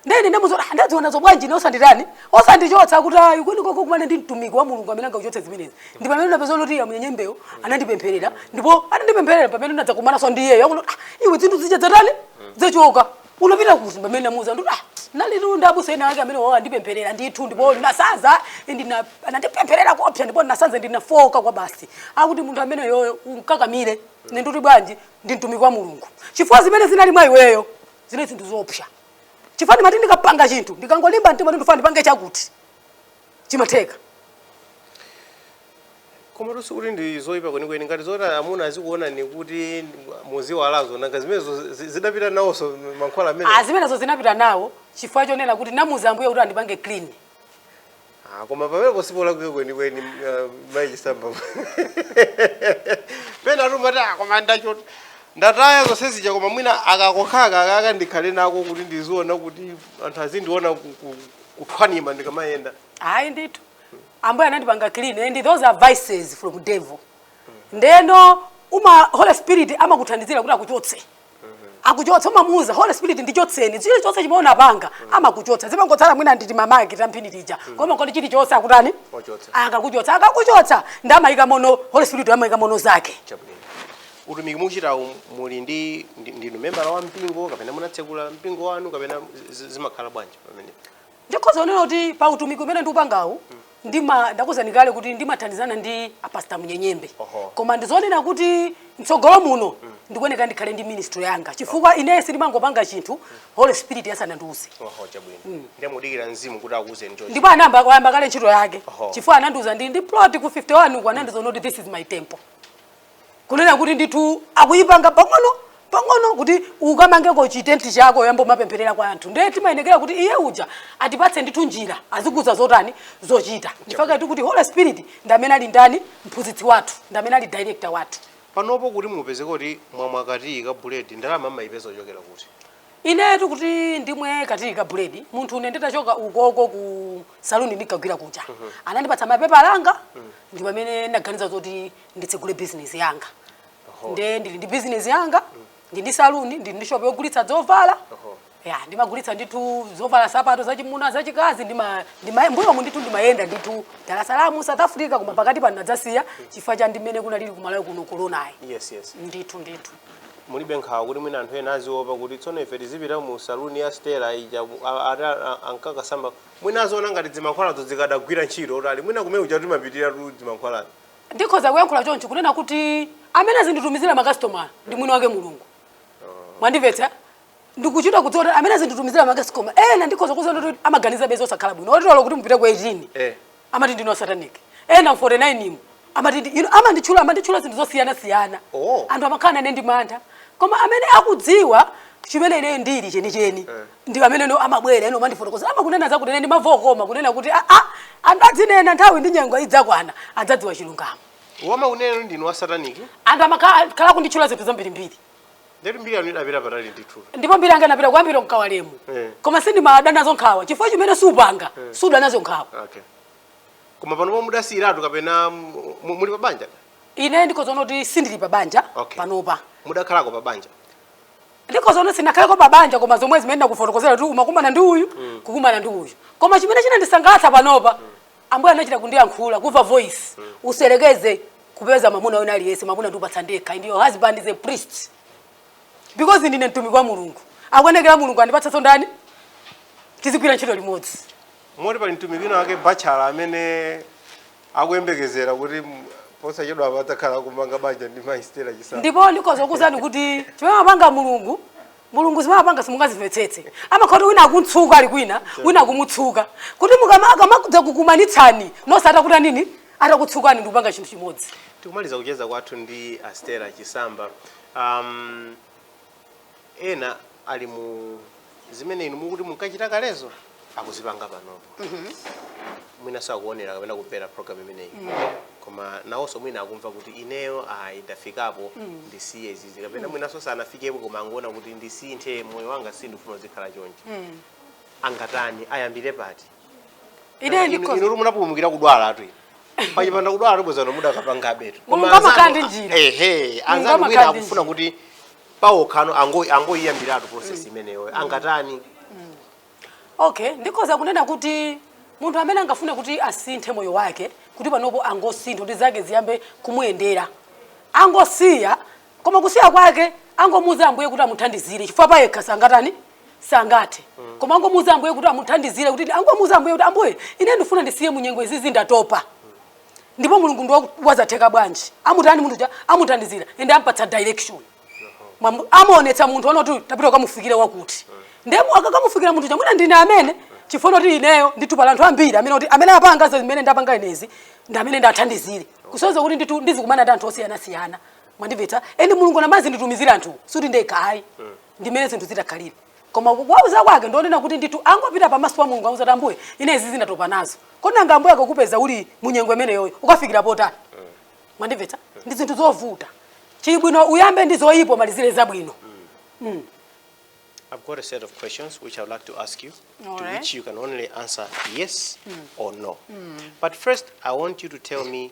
nde ine ndimuuza kuti ndadziona zobwanji nde osanditani osandichotsa kuti ayi kwinakwake ukakumane ndi mtumiki wa mulungu amene angakuchotse zimenezi ndi pamene ndapeza kuti iya Munyenyembe anandipempherera ndipo anandipempherera pamene ndadzakumananso ndi iyeyo akuti "Ah, iwe zinthu zija zatani zachoka unapita kuti pamene namuuza ndi ah ndinalitu ndi abusa ena ake amenewa andipempherera ndithu ndipo ndinasanza ndina anandipempherera koopsa ndipo ndinasanza ndinafooka kwabasi akuti munthu ameneyoyo umkakamire ne nditi bwanji ndi mtumiki wa mulungu chifukwa zimene zinali mwa iweyo zinali zinthu zoopsa chifukwa ndimati ndikapanga chinthu ndikangolimba mtima ndifuna ndipange chakuti chimatheka komatu sikuti ndi zoyipa kwenikweni ngati zoti amuna azikuonani kuti muziwalazo nanga zimenezo zi- zidapita nawonso mankhwala amene Ah, zimenezo zinapita nawo chifukwa chonena kuti ndamuuza ambuye kuti andipange clean Ah, koma pamenepo sipolakwika kwenikweni uh, mayi Chisamba pena timati koma ndachotsa ndataya zonse zija koma mwina aka kokhaka akaka ndikhale nako kuti ndizioneka kuti anthu azindiona ku- ku- kuthwanima ndikamayenda ayi ndithu ambuye anandipanga clean and those are vices from devil ndeno uma holy spirit amakuthandizira kuti akuchotse akuchotsa umamuuza holy spirit ndichotseni chili chonse chimene ndinapanga amakuchotsa zimangotsala mwina nditi mamaki tang'ono tija koma kodi chili chonse akutani Wachotsa. akakuchotsa akakuchotsa ndiye amayika mmenemo holy spirit amayika mmenemo zake chabwino utumiki mukuchita umu muli ndi ndi- ndinu membala wa mpingo kapena munatsekula mpingo wanu kapena zi- zimakhala bwanji Amen. ndikhoza kunena kuti pa utumiki umene ndikupangawu ndima ndakuuzani kale kuti ndimathandizana ndi apasta munyenyembe Oho. koma ndizonena kuti mtsogolo muno ndikuyeneka ndikhale ndi ministry yanga chifukwa ineyo sindimangopanga chinthu holy spirit asanandiuze Oho, chabwino. Ndiye mukudikira mzimu kuti akuuzeni choncho. ndipo anayamba kale ntchito yake Oho. chifukwa anandiuza ndi ndi plot ku 51 uku anandiuza kuti this is my temple kunena kuti ndithu akuyipanga pang'ono pang'ono kuti ukamangeko chitenti chako uyambe kumapemphererako anthu ndiye timayenekera kuti iye uja atipatse ndithu njira azikuuza zotani zochita chifukwatu kuti holy spirit ndi amene ali ndani mphunzitsi wathu ndi amene ali director wathu panopo kuti mupeze kuti mwamwa katiyi ka buledi ndalama mumayipeza kuchokera kuti inetu kuti ndimwe katiyi ka buledi munthu ine nditachoka ukoku ku saluni ndinkagwira kuja anandipatsa mapepala anga ndi pamene ndaganiza zoti nditsegule bizinesi yanga nde ndili ndi bizinesi yanga ndi ndi saluni ndili ndi shopu yogulitsa zovala ya ndimagulitsa ndithu zovala nsapato zachimuna zachikazi ndima- ndima- mbuyomu ndithu ndimayenda ndithu dar es salaam south africa koma pakati pano ndadzasiya chifukwa cha mmene kunalili ku Malawi kuno koronayi yes yes ndithu ndithu mulibe nkhawa kuti mwina anthu ena aziopa kuti tsono ife tizipita mu saluni ya stela ija mu- a- ati a- a- ankakasamba mwina aziona ngati zimankhwalazo zikadagwira ntchito kuti ali mwina kumene kuja timapitiratu zimankhwalazo Ndikhoza kuyankhula chonchi kunena kuti amene azinditumizira makasitomala ndi mwini wake Mulungu. Mwandimvetsa? Ndikuchita kudziwa kuti amene azinditumizira makasitomala ena ndikhoza kuuza kuti amaganizabe zosakhala bwino. Moti olo kuti mupite ku 18 Eh. amati ndine satanic. Ena mu 49 mu amati ndi- inu amanditchula amanditchula zinthu zosiyanasiyana. Oh. Anthu amakhala nane ndi mantha. Koma amene akudziwa chimene ineyo ndili chenicheni ndi amenenso amabwera ino mandifotokozera amakunena zakuti ndimamva koma kunena kuti a a anthu adzinena nthawi ndi nyengo idzakwana adzadziwa chilungamo omakunenani ndinu wa sataniki anthu amakhala kunditchula zinthu zambirimbiri ndiye kuti mbiri yanu idapita patali ndithu ndipo mbiri yanga inapita kuyambira m'Kawalemu Eh. koma sindimada nazo nkhawa chifukwa chimene siupanga suda nacho nkhawa okay koma panopo mudasiyiratu kapena mu- mu- muli pa banja ine ndikhoza kunena kuti sindili pa banja Okay. panopa mudakhalako pa banja ndikhoza kunena sinakhaleko pabanja koma zomwe zimene ndakufotokozera kuti umakumana ndi uyu mm. kukumana ndi uyu koma chimene chinandisangalatsa panopa mm. ambuye anachita kundiyankhula kumva voice mm. usayerekeze kupeza mamuna wina aliyense mamuna ndikupatsa ndekha and your husband is a priest because ndine mtumiki wa mulungu akuyenekera mulungu andipatsanso ndani tizigwira ntchito limodzi moti pali mtumiki wina wake bachala amene akuyembekezera kuti posachedwapa adzakhala akumanga banja ndi mayi stela chisamba ndipo ndikhoza kukuuzani kuti chimene amapanga mulungu mulungu zimene amapanga simungazimvetsetse amakhala kuti wina akumtsuka ali kwina wina akumutsuka kuti akamadza kukumanitsani nonse atakutanini atakutsukani ndikupanga chinthu chimodzi tikumaliza kucheza kwathu ndi astela chisamba um, ena ali mu zimene inu mukuti munkachita kalezo akuzipanga panopo mwinanso akuonera kapena kumvera program imeneyi koma nawonso mwina akumva kuti ineyo ayi ndafikapo ndisiye izizi kapena mwinanso sanafikepo koma akungoona kuti ndisinthe moyo wanga sindifuna uzikhala chonchi angatani ayambire pati ine ndikhoza inu munapulumukira kudwalatu pachipanda kudwala tu bwenzi pano mudakapangabetu Mulungu amakhala ndi njira. ehe Mulungu anzanu amakhala wina ndi akufuna njira. kuti pawokhano ango- angoyiyambiratu process imeneyo angatani okay ndikhoza kunena kuti munthu amene angafuna kuti asinthe moyo wake kuti panopo angosintha kuti zake ziyambe kumuyendera angosiya koma kusiya kwake angomuuza ambuye kuti amuthandizire chifukwa payekha sangatani sangathe koma angomuuza ambuye kuti amuthandizire kuti angomuuza ambuye kuti ambuye ine ndifuna ndisiye munyengo izizi ndatopa ndipo mulungu ndi waku- wazothekabe nanji amutani munthu uja amuthandizira ende ampatsa direction Mwamu- amuonetsa munthu kunena kuti tapita ukamufikire wakuti ndiye mwina akakamufikira munthu uja mwina ndine amene chifukwa kuti ineyo ndithu pali anthu ambiri amene kuti amene apanga zimene ndapanga inezi ndi amene ndathandizire kusonyeza kuti ndithu ndizikumana ndi anthu osiyanasiyana mwandimvetsa ende mulungu amazanditumizira anthu sikuti ndekha ayi ndimene zinthu zikukhalira koma kuwauza kwake ndikunena kuti ndithu ndingopita pamaso pa mulungu kuwauza kuti ambuye ine izi ndatopa nazo kodi ngati ambuye akakupeza uli munyengo imeneyoyo ukakafikira potani mwandimvetsa ndi zinthu zovuta kuli bwino uyambe ndi zoyipa umalizire zabwino I've got a set of questions which I would like to ask you, to Alright. which you can only answer yes or no. But first, I want you to tell me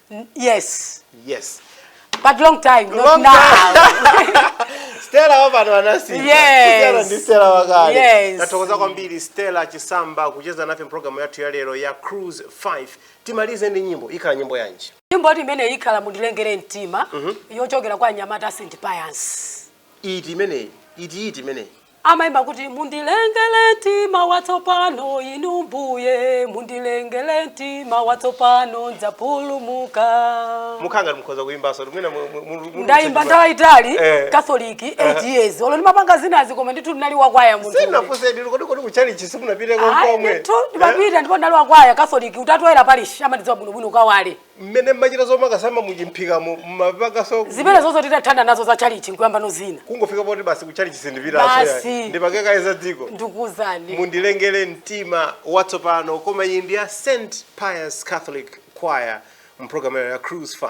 yes yes but long time not Long now Stella wapano anasiyana Yes. ndi Stella wakale Yes. tathokoza kwambiri Stella Chisamba kucheza nafe mpulogalamu yathu ya lero ya cruise 5 timalize ndi nyimbo ikhala nyimbo yanji nyimbo yoti imeneyi ikhala mundilengere mtima yochokera kwa anyamata a St Pius iti imeneyi iti iti imeneyi Amaimba kuti, Mundilengele mtima watsopano, Inu Mbuye, mundilengele mtima watsopano, ndzapulumuka. Mukhala ngati mukhoza kuimbanso, mwina mu- mu- mu- mu- Ndaimba mu- nthawi yaitali Eh. Catholic 8 years. Olo ndimapanga zinazi koma ndithu ndinali wakwaya munthu. Sindinafunse ndinu kodi kodi kuchalichi simumapitako Ayi, komwe. ndithu ndimapita ndipo ndinali wakwaya Catholic Utatu Woyera parish amandidziwa bwinobwino Kawale. mmene mmachita zomakasamba muchimphikamo mmapanganso zimene zonse titathana nazo za chalichi nkuyamba ndi zina kungofika poti basi kuchalichi sindipita Basi. ndipange kaye za dziko ndikuuzani mundilengere mtima watsopano koma iyi ndi ya st pius catholic choir mpulogalamu ya cruise 5